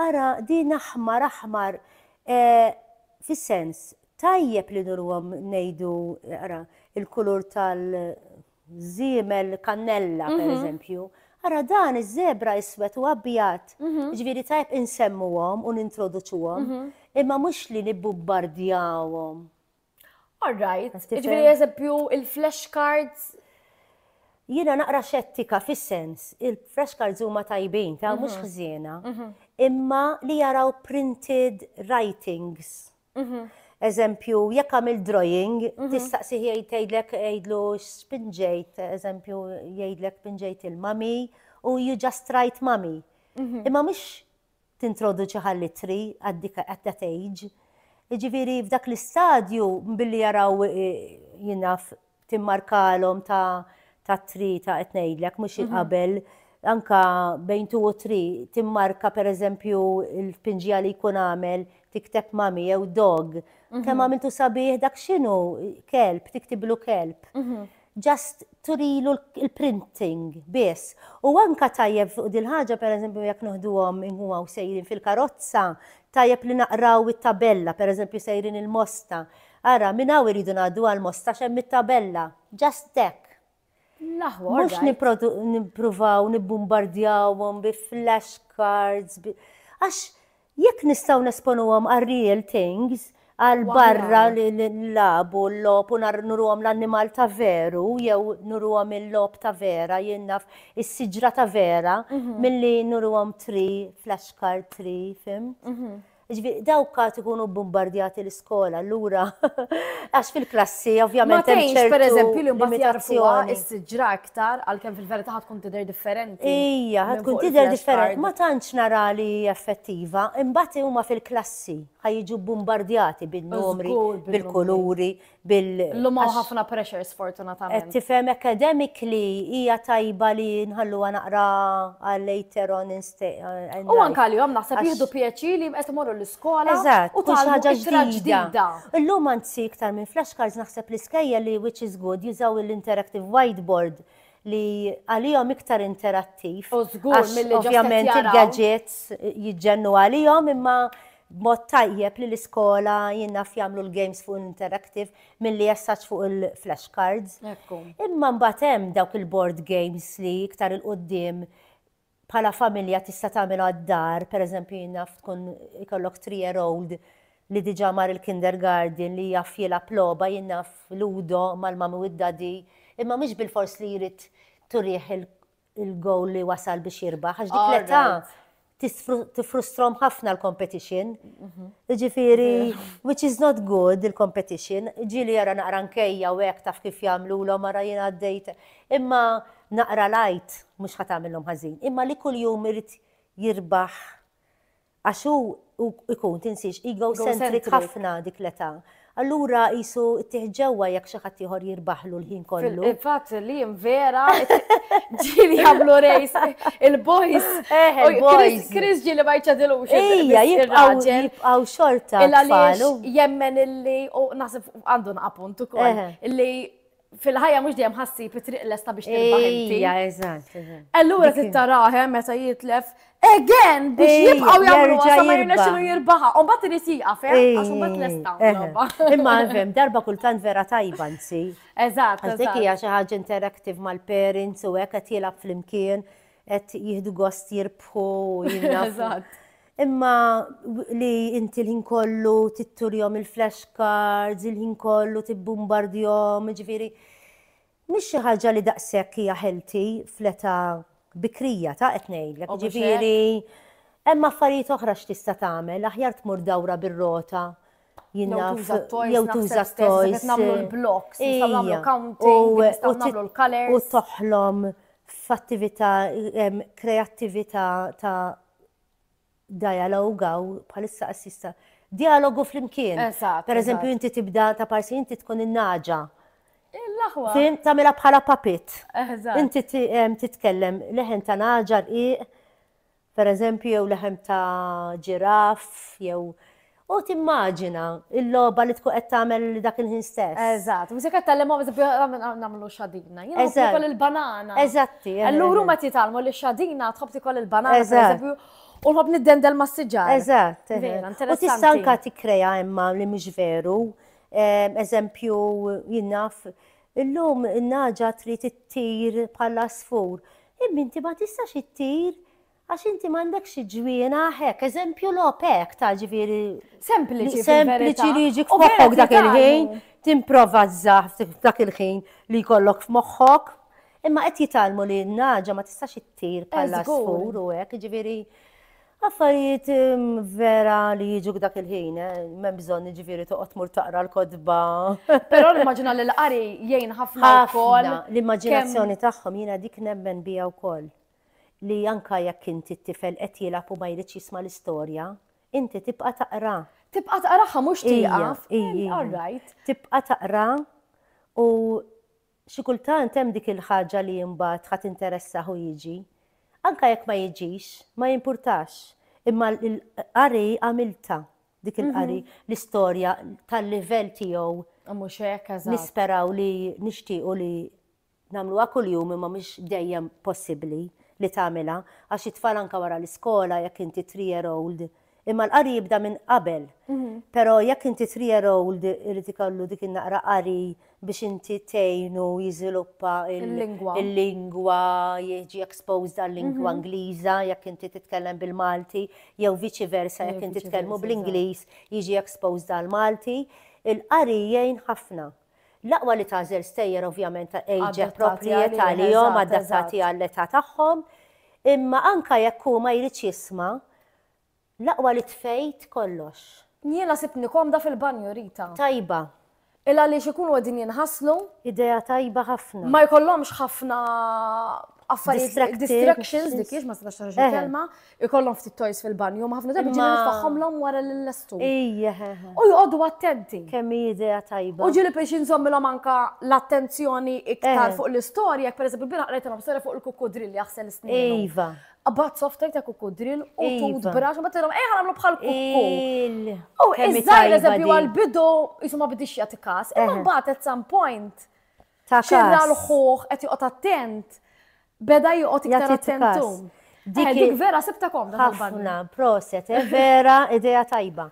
Ara din aħmar aħmar fis-sens tajjeb li nurwhom ngħidu ara l-kulur tal-żiemel kannella pereżempju, ara dan iż-żebra iswed u abjad, jiġifieri tajjeb insemmuhom u nintroduċuhom imma mhux li nibbumbardjawhom All right, ġifieri eżempju il-flash cards Jiena naqra xettika fis-sens, il-fresh cards huma tajbin ta' mhux mhm. ħżiena, mhm. imma li jaraw printed writings. Mhm. Eżempju, jekk għamil drawing, tistaqsi jgħidlek jgħidlu spinġejt, eżempju, jgħidlek spinġejt il-mami u you just write mami. Imma mhux tintroduċi ħall-ittri at that age. Jiġifieri f'dak l-istadju billi jaraw jien naf timmarkalhom ta' ta' tri ta' qed ngħidlek mhux mhm. qabel anka bejn tu u tri timmarka pereżempju l-pinġija li jkun għamel tikteb mami jew dog. Mhm. Kemm għamiltu sabiħ dak x'inhu kelb, tiktiblu kelb. Mhm. just turilu l-printing biss. U anke tajjeb fuq dil-ħaġa pereżempju jekk noħduhom inhuwa u sejrin fil-karozza, tajjeb li naqraw it-tabella, pereżempju sejrin il-Mosta, ara minn hawn iridu ngħaddu għall-Mosta għax hemm it-tabella, just hekk. Mhux nippruvaw nibbumbardjawhom bi flash cards, għax Jekk nistgħu nesponuhom għar-real things, għal barra li nlabu l-lob u nuruhom l-annimal ta' veru jew nuruhom il-lob ta' vera, jien naf is-siġra ta' vera milli nuruhom tri flashcard tri, fimt? Ġifieri dawk għad ikunu bbumbardjati l-iskola, allura għax fil-klassi ovvjament hemm ċertu limitazzjoni. Ma tgħinx pereżempju li mbagħad jarfuha s-siġra iktar, għalkemm fil-verità ħad tkun tidher differenti. Ija, ħad tkun tidher differenti. Ma tantx nara li effettiva, imbagħad huma fil-klassi ħaj jiġu bombardjati bin-numri, bil-kuluri, bil. L-huma ħafna pressure sfortunatament. Qed tifhem academically hija tajba li nħalluha naqra għal later on U anka għalihom naħseb jieħdu pjaċir li qed imorru l-iskola u ħaġa ġdida. Illum anzi iktar minn flashcards naħseb l-iskejja li which is good jużaw l-interactive whiteboard li għalihom iktar interattiv. U żgur mill Ovvjament il-gadgets jiġġennu għalihom imma b'mod tajjeb li l-iskola jinnaf jagħmlu l-games fuq l-interactive milli jessaċ fuq il-flashcards. Imma mbagħad hemm dawk il-board games li iktar il-qudiem bħala familja tista' tagħmel għad-dar, pereżempju jien naf tkun ikollok three year old li diġà mar il-kindergarten li jaf jilgħab logħba, jien naf ludo mal-mummy u d-daddy, imma mhux bilfors li jrid turih il-goal li wasal biex jirbaħ għax dik l-età tiffrustrom ħafna l-competition. Jiġifieri, which is not good il-competition, ġieli jara naqra nkejja u hekk taf kif jagħmlulhom ara jien għaddejt. Imma naqra l-għid mhux ħa tagħmilhom ħażin, imma li kuljum irid jirbaħ għax hu jkun, tinsiex, egocentric ħafna dik l-età. Allura qisu ttieħ ġewwa jekk xi ħadd ieħor jirbaħlu l-ħin kollu. Il-fatt li vera ġieli jagħmlu rejs il-boys. Eh, il-boys. Chris ġieli ma jċadilux. Ejja, jibqgħu jibqgħu xorta. Illa li jemmen illi u naħseb għandu naqapunt ukoll. Illi fil-ħajja mhux dejjem ħassi it-triq lesta biex tirbaħ inti. Ija, eżatt, eżatt. Allura tittaraħe meta jitlef again biex jibqgħu jagħmlu għasa ma jirna xinu jirbaħa. U mbagħad irid jieqaf, eh? għax mbagħad lesta. Eh. Imma fem, darba kultant vera tajba nsi. Eżatt. Għax dik hija xi ħaġa interactive mal-parents u hekk qed jilgħab flimkien qed jieħdu gost jirbħu. Eżatt. Imma li inti l-ħin kollu titturjom il-flash cards, il-ħin kollu tibbumbardjom, ġifiri, mhix xi ħaġa li daqshekk hija ħelti fl-età bikrija ta' qed ngħidlek. Ġifiri, hemm affarijiet oħra x'tista' tagħmel, aħjar tmur dawra bir-rota. Jew tuża toys, jew tuża toys. Nagħmlu l-blocks, nagħmlu counting, nagħmlu l-colors. U toħlom f'attività kreattività ta' dialogue għaw bħalissa qassis ta' dialogu flimkien. Eżatt. Per eżempju, eżatt. inti tibda ta' parsi, inti tkun in-naġa. Il-laħwa. Fim, tamela bħala papit. Eżatt. Inti ti- em, titkellem leħen ta' naġa rqiq, per eżempju, jew leħen ta' ġiraf, jew U timmaġina l-logħba li tkun qed tagħmel dak il-ħin stess. Eżatt, mhux se qed tgħallimhom nagħmlu xadina. Jien nħobb nikol il-banana. Eżatti. Allura huma qed jitgħallmu li xadina tħobb tikol il-banana pereżempju u nħobb niddendel mas-siġar. Eżatt. U tista' anke tikkrea imma li mhux veru. Eżempju, jien naf, illum in-naġa trid ittir bħala sfur. Imma inti ma tistax ittir Għax inti m'għandekx xi ġwienaħ hekk, eżempju logħob hekk ta' ġifieri. Sempliċi, sempliċi li jiġi f'moħħok dak il-ħin, timprova żżaħ dak il-ħin li jkollok f'moħħok. Imma qed jitalmu li n-naġa ma tistax ittir bħala skur u hekk, ġifieri affarijiet vera li jiġu dak il-ħin, eh, ma bżonn ġifieri toqgħod mur taqra l-kodba. Però l-immaġina li l-qari jgħin ħafna wkoll. L-immaġinazzjoni tagħhom jiena dik nemmen bija wkoll. li anke jekk inti t-tifel qed jilgħab u ma jridx jisma' l-istorja, inti tibqa' taqra. Tibqa' taqraha mhux tieqaf. All right. Tibqa' taqra u xi kultant hemm dik il-ħaġa li mbagħad ħa tinteressah u jiġi. Anke jekk ma jiġix, ma jimpurtax. Imma l-qari għamiltha, dik il-qari, l-istorja tal-livell tiegħu. Mhux hekk, eżatt. Nisperaw li nixtiequ li Nagħmluha kuljum imma mhix dejjem possibbli li tagħmilha għax it-tfal anke wara l-iskola jekk inti three year old imma l-qari jibda minn qabel. Però jekk inti three year old irid ikollu dik in-naqra qari biex inti tgħinu jiżviluppa l-lingwa, jiġi exposed għal-lingwa Ingliża jekk inti titkellem bil-Malti jew viċi versa jekk inti tkellmu bl-Ingliż jiġi exposed għall-Malti. Il-qari jgħin ħafna. L-aqwa li tagħżel stejjer ovvjament age appropriate għalihom, adattati għall-età tagħhom, imma anke jekk hu ma jridx jisma', l-aqwa li tfejt kollox. Jiena sibtni komda fil-banju, Rita. Tajba. Il għaliex ikunu qegħdin jinħaslu. Idea tajba ħafna. Ma jkollhomx ħafna affarijiet distractions, distractions dik hiex ma tistax toħroġ il-kelma, ikollhom ftit toys fil-banju, ma ħafna drabi ġieli nfaħħomlhom wara l-lestu. Ija. U jqogħdu attenti. Kemm idea tajba. U ġieli biex inżommilhom anka l-attenzjoni iktar eh. fuq l-istorja, jekk pereżempju bira qrajtilhom storja fuq il-kukkudrill jaħsel snin. Iva. Abbat softajt ta' kukkudrill u iva. tut brax, u batilhom ejja nagħmlu bħal kukku. U iżżajr eżempju għal-bidu jisuma bidix jagħti kas, imma eh. mbagħad at some point Ta' kas. Xirra l-ħuħ, qed joqgħod attent, beda joqgħod iktar Jagħti attent kas. hum. Eh, Dik hi- Dik vera sibta komda fil-bagni. Ħafna, proset, eh, vera idea tajba.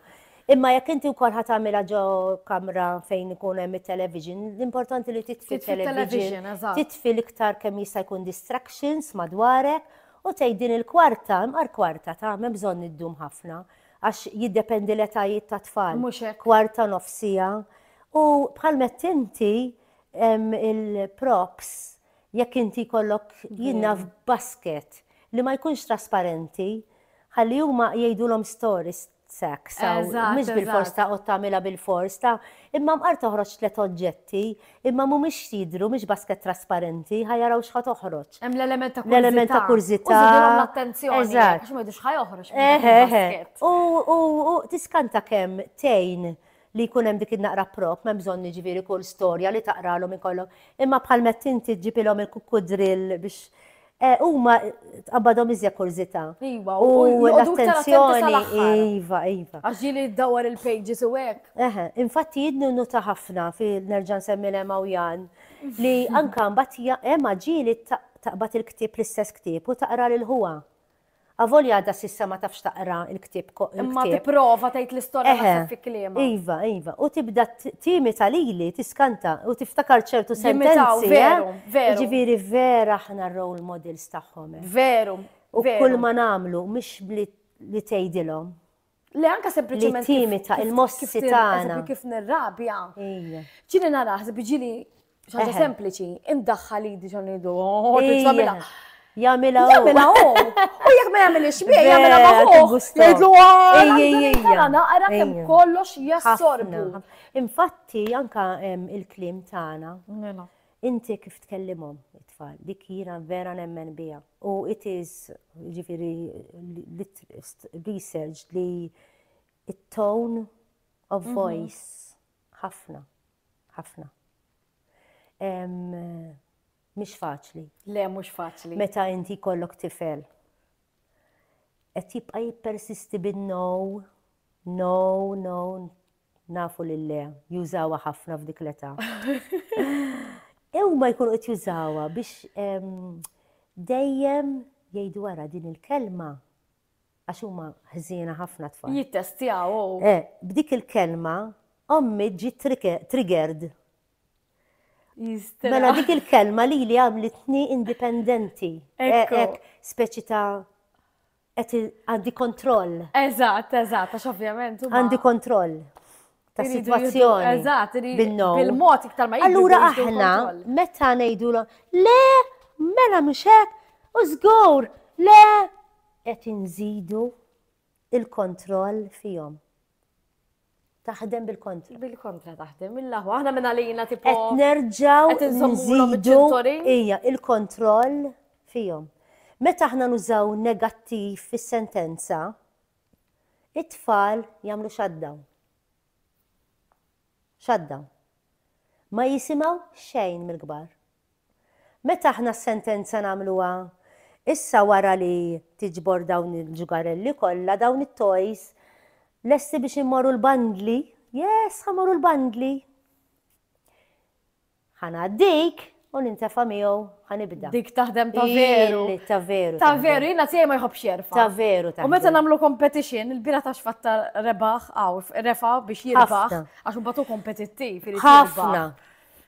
Imma jekk inti wkoll ħat tagħmilha ġo kamra fejn ikun hemm it-television, l-importanti li titfi Titfi television, television, eżatt. titfi l-iktar kemm jista' jkun distractions madwarek u tgħid din il-kwarta, imqar kwarta ta' m'hemm bżonn iddum ħafna għax jiddependi l-etajiet ta' tfal. Mhux hekk. Kwarta nofsija, U bħal mett inti il-props jekk inti kollok jinna f'basket li ma jkunx trasparenti, ħalli huma jgħidulhom stories sex, mhux bil-fors ta' qod tagħmilha bil-fors ta' imma mqar toħroġ tliet oġġetti, imma mhumiex jidhru mhix basket trasparenti, ħa jaraw x'ħa toħroġ. Hemm l-element ta' kurżità. L-element ta' kurżità. Iżidilhom l-attenzjoni. Eżatt. Għax ma jidux ħa joħroġ. U tiskanta kemm tgħin li jkun hemm dik in-naqra prop, m'hemm bżonn jiġifieri kull storja li taqralhom ikollok, imma bħal mett inti ġġibilhom il-kukkudrill biex Eh, huma tqabbadhom iżja kurżità. Iva, u l-attenzjoni. Iva, iva. Għax ġili ddawwar il-pages u hekk. Eħe, infatti jidnu nuta ħafna fil-nerġa' nsemmi l u Jan li anka mbagħad hemm ġili taqbad il-ktieb l-istess ktieb u taqra lil ħuha. Avolja għadha s'issa ma tafx taqra l-ktieb. Imma tipprova tgħid l-istorja naħseb fi kliemha. Iva, iva. U tibda timita lili, tiskanta u tiftakar ċertu sentenzi. Veru, veru. Ġifieri vera aħna role models tagħhom. Veru. U kull ma nagħmlu mhix li tgħidilhom. Le anka sempliċement. Li timita il-mossi tagħna. Kif nirrabja. Ġili naraħ, ġili ħaġa sempliċi, indaħħal idi ġon idu. Oh, jamila u. Jamila u. U jek ma jamila xbie, jamila ma u. Jgħidlu għara. Naqra kem kollox jassorbu. Infatti, anka il-klim tagħna. Mela. Inti kif tkellimhom it-tfal, dik jiena vera nemmen biha. U it is, jiġifieri researched li t-tone of voice ħafna, ħafna. Mhix faċli. Le, mhux faċli. Meta inti jkollok tifel. Qed jibqa' jippersisti bin-no, no, no, Nafu li le, jużawha ħafna f'dik l-età. Huma jkunu qed jużawha biex dejjem jgħidu wara din il-kelma għax huma ħżiena ħafna tfal. Jittestjaw. Oh. Eh, b'dik il-kelma ommi ġi triggered. Mela dik il-kelma li li għamlitni indipendenti. Ekk, eh, speċi ta' Qed għandi kontroll. Eżatt, eżatt, għax ovvjament. Għandi kontroll ta' situazzjoni. Eżatt, bil-mod iktar ma Allura aħna meta ngħidu le, mela mhux hekk, u żgur, le qed inżidu il-kontroll fihom. taħdem bil-kontra. Bil-kontra taħdem, il-laħwa, aħna minna lejna tipo. Qed nerġaw nżidu ija il-kontroll fihom. Meta aħna nużaw negattiv fis-sentenza, it-tfal jagħmlu shutdown. Shutdown. Ma jisimaw xejn mill-kbar. Meta aħna s-sentenza nagħmluha? Issa wara li tiġbor dawn il-ġugarelli kollha, dawn it-toys, lesti biex immorru l-bandli? Yes, ħa morru l-bandli. Ħa ngħaddik u nintefa' miegħu ħa nibda. Dik taħdem ta' veru. Ili ta' veru. Ta' veru, jiena tiegħi ma jħobb xerfa. Ta' veru ta' U meta nagħmlu competition, il-bira ta' xfatta rebaħ għaw, refa biex jirbaħ, għax mbagħad hu kompetittiv. Ħafna.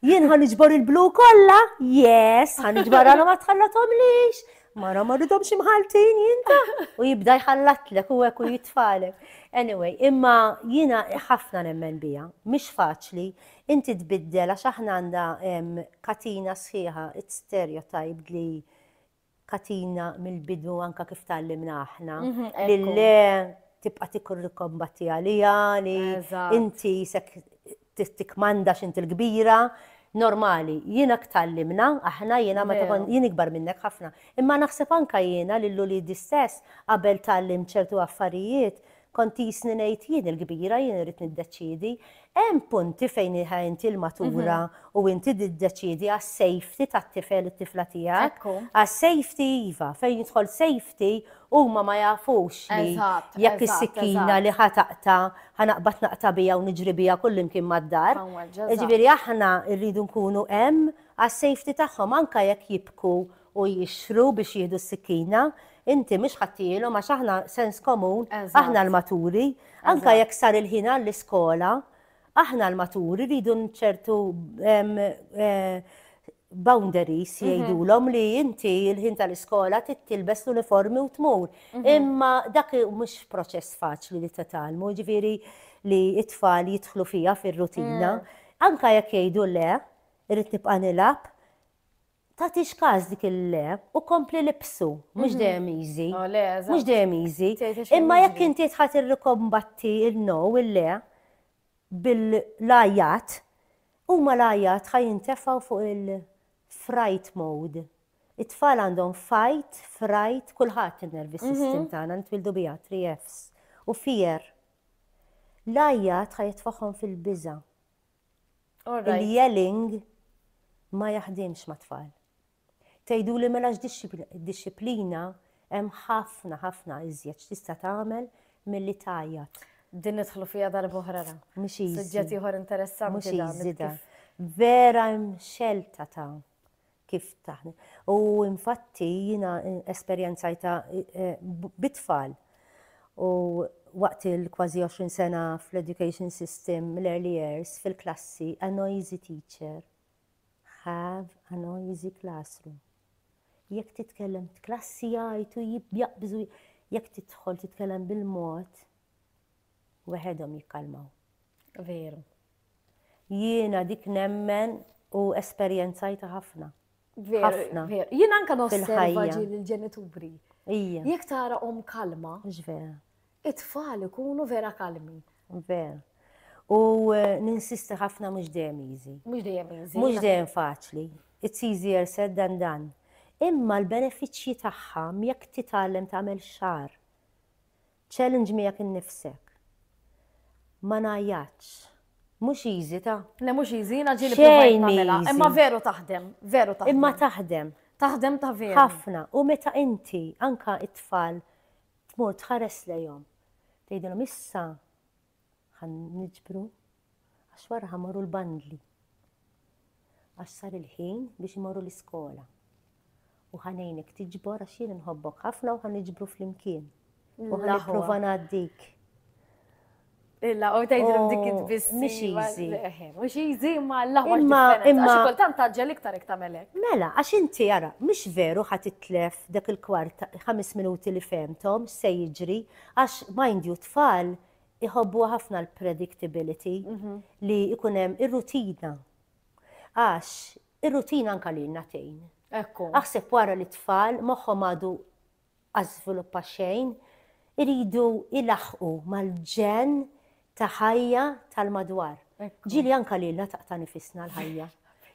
Jien ħan iġbor il-blu kollha, yes, ħan iġbor għalhom ma tħallatomlix. Mara ma ridhom xi mħaltin jinta u jibda jħallatlek u hekk u jitfalek. Anyway, imma jiena ħafna nemmen bija, mhix faċli, inti tbiddel għax aħna għandha katina sħiħa, it's stereotype li katina mill-bidu anka kif tgħallimna aħna li le tibqa' tikkombatti għaliha li inti sek tikmanda x'inti l-kbira. Normali, jiena tgħallimna aħna jiena meta kont jien ikbar minnek ħafna. Imma naħseb anka jiena lil uliedi stess qabel tgħallimt ċertu affarijiet Kont qisni ngħid jien il-kbira, jien irrid niddeċiedi. Hemm punti fejn hi inti l-matura u inti tiddeċiedi għas-safety tat-tifel, it-tifla tiegħek. Ekku. Għas-safety iva, fejn jidħol safety huma ma jafux li Eżatt, jekk eżatt, is-sikkina eżatt. li ħa taqta, ħa naqbad naqta biha u niġri biha kullimkien mad-dar. Hawn weġġa', eżatt. Jiġifieri aħna rridu nkunu hemm għas-safety tagħhom anke jekk jibku u jixxru biex jieħdu s-sikkina, inti mhux ħadtihielhom għax aħna sens komun, aħna l-maturi, anke jekk sar il-ħin għall-iskola, aħna l-maturi rridu ċertu boundaries mhm. jgħidulhom li inti l-ħin tal-iskola tittilbes l-uniformi u tmur. Mhm. Imma dak mhux proċess faċli li tatalmu, ġifieri li it-tfal jidħlu fija fir-rutina. Mm. Anka jekk jgħidu le, irrid nibqa' nilgħab, tagħtix każ dik il-le u kompli libsu, mhux dejjem easy. Oh, le, eżatt. Mhux dejjem easy. Tgħid għax Imma hemm jekk jiġri. inti tħadd irrikombatti il-no, il-le, bil-lajjat, huma lajjat ħa jintefgħu fuq il-fright mode. It-tfal għandhom fight, fright, kulħadd in-nervous system tagħna nitwildu biha, 3 Fs. U fear. Lajjat ħa jitfagħhom fil-biża'. Il-yelling ma jaħdimx ma' tfal. Tgħidu li mela x'dixxiplina hemm ħafna ħafna iżjed x'tista' tagħmel milli tgħajjat. Din nidħlu fiha darba oħra ra. Mhux easy. Suġġett ieħor interessanti. Mhux easy da. Vera hemm xelta ta' kif taħdem. U infatti jiena esperjenzajtha bi tfal u waqt il-kważi 20 sena fl-education system l-early years fil-klassi a noisy teacher have a noisy classroom. Jekk titkellem klassi jgħajtu jibjaqbżu jekk tidħol titkellem bil-mod weħedhom jikkalmaw. Veru. Jiena dik nemmen u esperjenzajta ħafna. Ħafna. Jien anka nosserva ġieli l-ġenituri. Ija. Jek tara om kalma. Ġvera. It-tfal ikunu vera kalmi. Vera. U eh, ninsisti ħafna mhux dejjem easy. Mhux dejjem easy. Mhux dejjem faċli. It's easier said than done. Imma l-benefiċċji tagħha jekk titgħallem tagħmel xar. Challenge miegħek innifsek. Ma ngħajjatx. Mhux easy ta'. Le mhux easy, jiena ġieli provajt nagħmilha. Imma veru taħdem, veru taħdem. Imma taħdem. Taħdem ta' veru. Ħafna. U meta inti anka it-tfal tmur tħares lejhom. Tgħidilhom issa Ħa niġbru għax wara ħa morru l-bandli. Għax sar il-ħin biex imorru l-iskola. U ħa ngħinek tiġbor għax jien inħobbok ħafna u ħa niġbru flimkien. U ħa nipprova ngħaddik. Illa, u tajdilom dik oh, id-biss. Mux easy. Mux easy, ma l-ħwa. Imma, imma. Għax kultant taġġel iktar iktar melek. Mela, għax inti għara, mux veru ħat itlef dak il-kwart 5 minuti li femtom, se jiġri, Għax mind you t-tfal iħobbuha ħafna l-predictability li jkun hemm ir-rutina. Għax ir-rutina anke lilna tgħin. Ekku. Aħseb wara li t-tfal moħħhom għadu għaż-żviluppa xejn, iridu ilaħħqu mal-ġenn ta' ħajja tal-madwar. Ġieli anka lilna taqta' nifisna l-ħajja.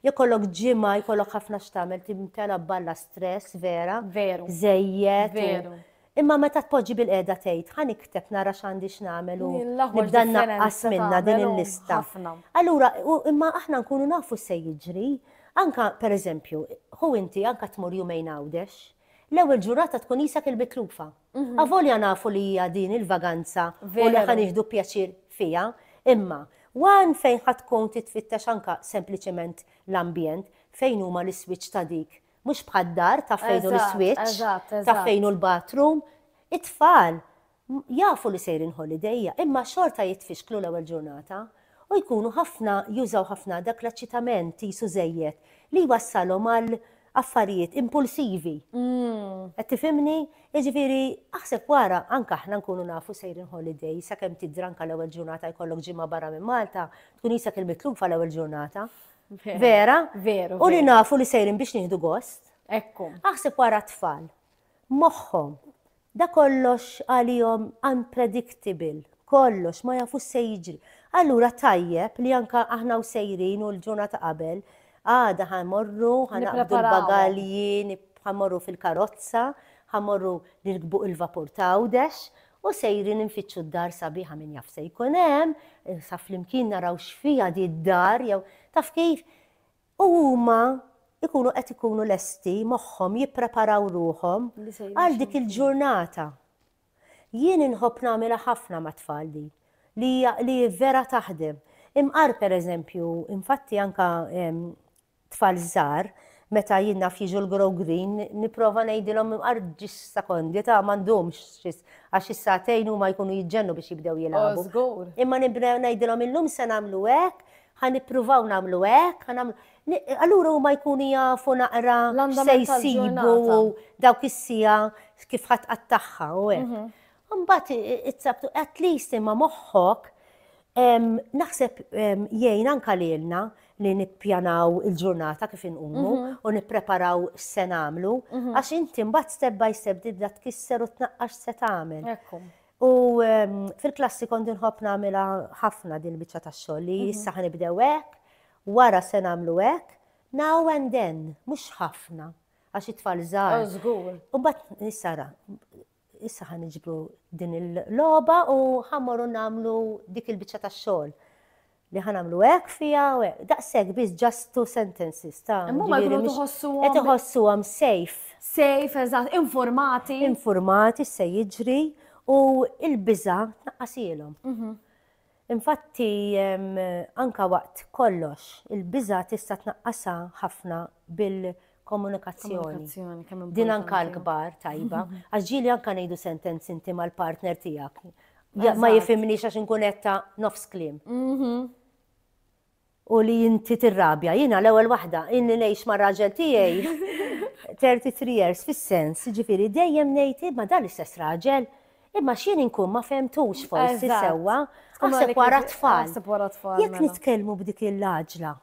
Jkollok ġimgħa, jkollok ħafna x'tagħmel, timtela balla stress vera. Veru. Żejjed. Veru. Imma meta tpoġġi bil-qiegħda tgħid, ħa nikteb nara x'għandi x'nagħmel u nibda naqqas minnha din il-lista. Allura, imma aħna nkunu nafu x'se jiġri. Anka, pereżempju, ħu inti anka tmur jumejn Għawdex, l-ewwel ġurata tkun qisek il-mitlufa. Avolja nafu li hija din il-vaganza u li ħa nieħdu pjaċir fiha, imma one fejn ħa tkun titfittex anke sempliċement l-ambjent, fejn huma l-iswitch ta' dik, mhux bħad-dar taf fejn hu l-iswitch, taf fejn hu l-bathroom, it-tfal jafu li sejrin holiday imma xorta jitfixklu l-ewwel ġurnata u jkunu ħafna jużaw ħafna dak l-eċċitament qisu żejjed li jwassalhom għal affarijiet impulsivi. Qed tifhimni? Jiġifieri aħseb wara anke aħna nkunu nafu sejrin holiday sakemm tidri anke l-ewwel ġurnata jkollok ġimgħa barra minn Malta, tkun isek il-mitlufa l-ewwel ġurnata. Vera? Veru. U li nafu li sejrin biex nieħdu gost. Ekku. Aħseb wara t-tfal. Moħħhom Da kollox għalihom unpredictable, kollox, ma jafux x'se jiġri. Allura tajjeb li anke aħna u sejrin u l-ġurnata qabel, għada ħa mmorru, ħa naqbdu l-bagalji, ħa mmorru fil-karozza, ħa mmorru nirkbu il-vapur ta' Għawdex u sejrin infittxu d-dar sabiħa min jaf x'se jkun hemm, sa flimkien naraw x'fiha di d-dar jew taf kif? U huma jkunu qed ikunu lesti moħħhom jippreparaw ruħhom għal dik il-ġurnata. Jien inħobb nagħmilha ħafna mat-tfal din, li hija li vera taħdem. Imqar pereżempju, infatti anke tfal żgħar, meta jien naf jiġu l-Grow Green, nipprova ngħidilhom imqar ġiex sekondi ta' m'għandhomx xis għax is-sagħtejn huma jkunu jiġġennu biex jibdew jilagħbu. Imma nibda ngħidilhom illum se nagħmlu hekk, Ħa nippruvaw nagħmlu hekk, ħa nagħmlu. Allura huma jkunu jafu naqra se jsibu dawk is-sija kif ħadd qattagħha u hekk. Mhm. Mbagħad it-sabtu at least imma moħħok naħseb jgħin anka lilna li nippjanaw il-ġurnata kif inqumu mhm. u nippreparaw se nagħmlu mhm. għax inti mbagħad step by step dibda tkisser u tnaqqax se tagħmel. U fil-klassi kont inħobb nagħmilha ħafna din il-biċċa tax-xogħol li mhm. issa ħanibdew hekk, wara se nagħmlu hekk, now and then, mhux ħafna għax it-tfal żgħar. Oh, żgur. U bat nissara, issa ħan iġbru din il-loba u ħammorru namlu dik il-bicċa ta' xogħol. li ħa nagħmlu hekk fiha u hekk. Daqshekk biss just two sentences ta' Imma huma jkunu tħossuhom. Qed iħossuhom safe. Safe, eżatt, informati. Informati se jiġri u l-biża' tnaqqasilhom. Mhm. Infatti anka waqt kollox, il-biża' tista' tnaqqasha ħafna bil komunikazzjoni. Din anka l-kbar tajba, għax ġieli anka ngħidu sentenzi inti mal-partner tiegħek. Ma jifimni għax inkun etta nofs klim. Mhm. U li inti tirrabja, jiena l-ewwel waħda, inni ngħix ma' raġel tiegħi 33 years fis-sens, ġifieri dejjem ngħid ma dan l-istess raġel, imma x'jien inkun ma fehmtux forsi sewwa, għaseb wara tfal. Jekk mela. nitkellmu b'dik il-laġla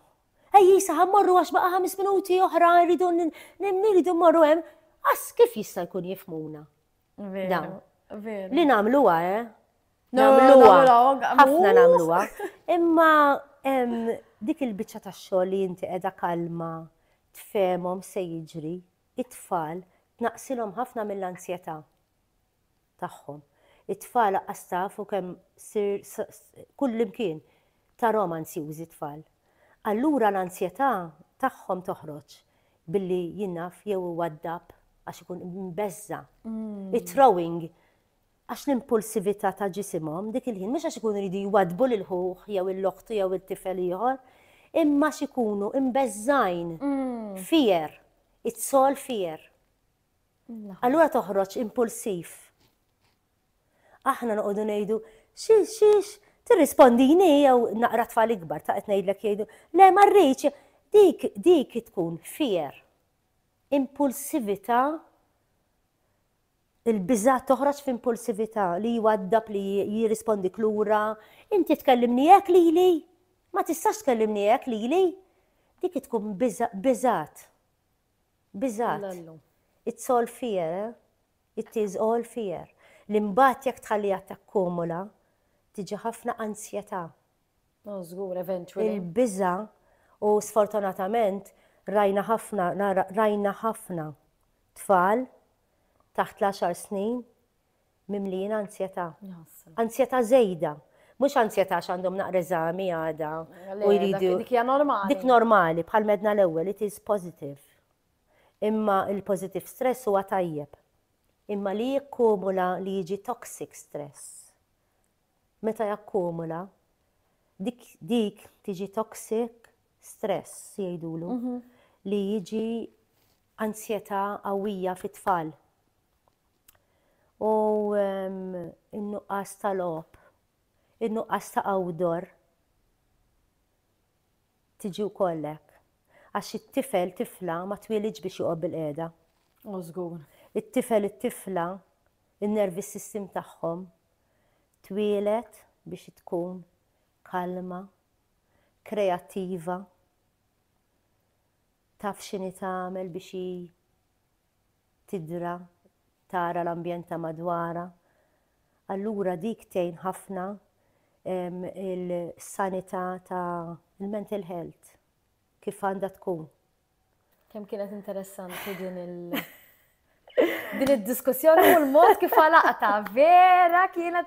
Ejji, sa ħammorru għax baqa' ħames minuti oħra rridu nirridu mmorru hemm. Għas kif jista' jkun jifmuna? Dawn. Li nagħmluha, eh? Nagħmluha. Ħafna nagħmluha. Imma dik il-biċċa tax-xogħol li inti qiegħda kalma, tfemhom se jiġri, it-tfal, tnaqsilhom ħafna mill-anzjetà. tagħhom. It-tfal aqqas taf u kemm ssir kullimkien tarahom ansjużi t-tfal. Allura l-ansjetà tagħhom toħroġ billi jingħaf jew iwaddab għax ikun imbeżża'. It-throwing għax l-impulsività ta' ġisimhom dik il-ħin mhux għax ikunu jridu jwaddbu lil ħuh jew lil oħtu jew lil tifel ieħor, imma għax ikunu imbeżżgħin. Fear. It's all fear. Allura toħroġ impulsiv. Aħna noqogħdu ngħidu, xiex, xiex, tirrispondini jew naqra tfal ikbar ta' qed ngħidlek jgħidu, le ma rridx, dik dik tkun fier. Impulsività il-biża toħroġ f'impulsività li jwaddab li jirrispondi klura, inti tkellimni hekk lili, ma tistax tkellimni hekk lili. Dik tkun biżat. Biżgħat. It's all fear, eh? It is all fear. Li mbagħad jekk tħalliha takkumula, tiġi ħafna ansjetà. No, żgur, eventually. Il-biża' u sfortunatament rajna ħafna, rajna ħafna tfal taħt l-10 snin mimlijin ansjetà. Ansjetà żejda. Mhux ansjetà għax għandhom naqra eżami għada u jridu. Dik hija normali. Dik normali, bħal medna l-ewwel, it is positive. Imma il-positive stress huwa tajjeb. Imma li jikkumula li jiġi toxic stress. Meta jakkumula, dik dik tiġi toxic stress jgħidulu mhm. li jiġi ansjetà qawwija fit-tfal. u n-nuqqas ta' logħob, in-nuqqas ta' outdoor tiġi wkoll hekk. Għax it-tifel, tifla ma twielidx biex joqgħod bil-qiegħda. Oh, żgur. It-tifel, it-tifla, in-nervi system tagħhom twieled biex tkun kalma, kreattiva, taf x'inhi tagħmel biex tidra, tara l-ambjent ta' madwarha. Allura dik tgħin ħafna il-sanità ta' il-mental health kif għandha tkun. Kemm kienet interessanti din il- din id-diskussjoni u l-mod kif għalaqta, vera kienet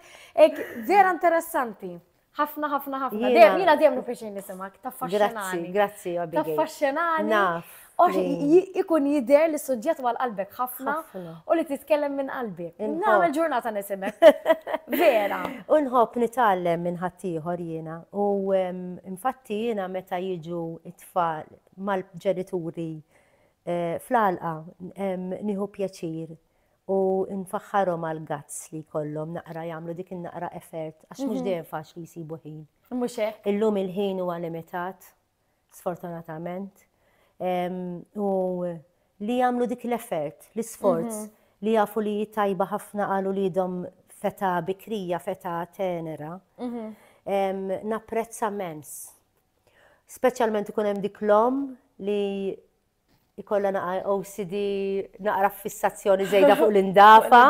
vera interessanti. Ħafna, ħafna, ħafna. Jiena dejjem nifixin nisimak, taffaxxenani. Grazzi, grazzi, Abigail. Taffaxxenani. Naf. Ikun jider li suġġett għal qalbek ħafna u li titkellem minn qalbi. Nagħmel ġurnata nisimek. Vera. Unħob nitgħallem minn ħaddieħor jiena u infatti jiena meta jiġu it-tfal mal-ġenituri eh, fl-alqa nieħu pjaċir U nfaħħarhom għall-guts li jkollhom naqra jagħmlu dik in-naqra effort għax mhux dejjem faċli jsibu ħin. Mhux hekk. Illum il-ħin huwa limitat, sfortunatament. U li jagħmlu dik l-effort, l-isforz mhm. li jafu li tajba ħafna għal uliedhom feta bikrija, feta tenera. Mhm. Napprezza mens. Speċjalment ikun hemm dik l-om li Ikollha naqra OCD, naqra fissazzjoni żejda fuq l-indafa.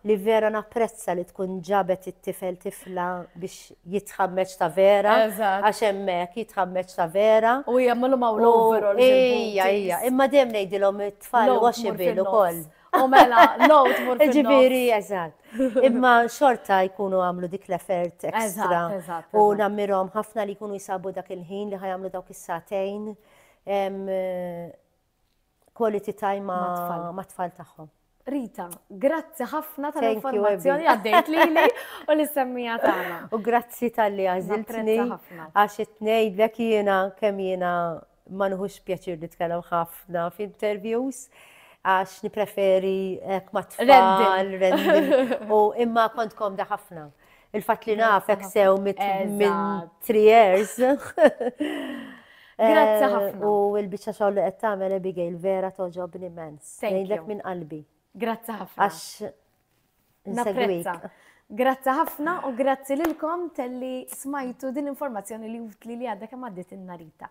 Li vera napprezza li tkun ġabet it-tifel tifla biex jitħammeġ ta' vera. Għax hemmhekk jitħammeġ ta' vera. U jagħmlu ma' l-overall. Ejja, ejja. Imma dejjem ngħidilhom it-tfal washable ukoll. U mela, load tmur fil-nofs. Ġifieri, eżatt. Imma xorta jkunu għamlu dik l-effort ekstra. U nammirhom ħafna li jkunu jsabu dak il-ħin li ħajamlu dawk is-sagħtejn. quality time ma' tfal tagħhom. Rita, grazzi ħafna tal-informazzjoni għaddejt lili u li semmija tagħna. U grazzi tal-li għażiltni għax itnejdlek jiena kemm jiena ma nħux pjaċir li tkellem ħafna f'interviews għax nipreferi ma tfal, u imma kontkom da ħafna. Il-fatt li nafek sew minn three years. Grazzi eh, ħafna. U l-biċċa xogħol li qed tagħmel Abigail vera toġobni immens. Ngħidlek minn qalbi. Grazzi ħafna. Għax napprezza. Grazzi ħafna u grazzi lilkom telli smajtu din l-informazzjoni li li għadha kemm għaddit in-narita.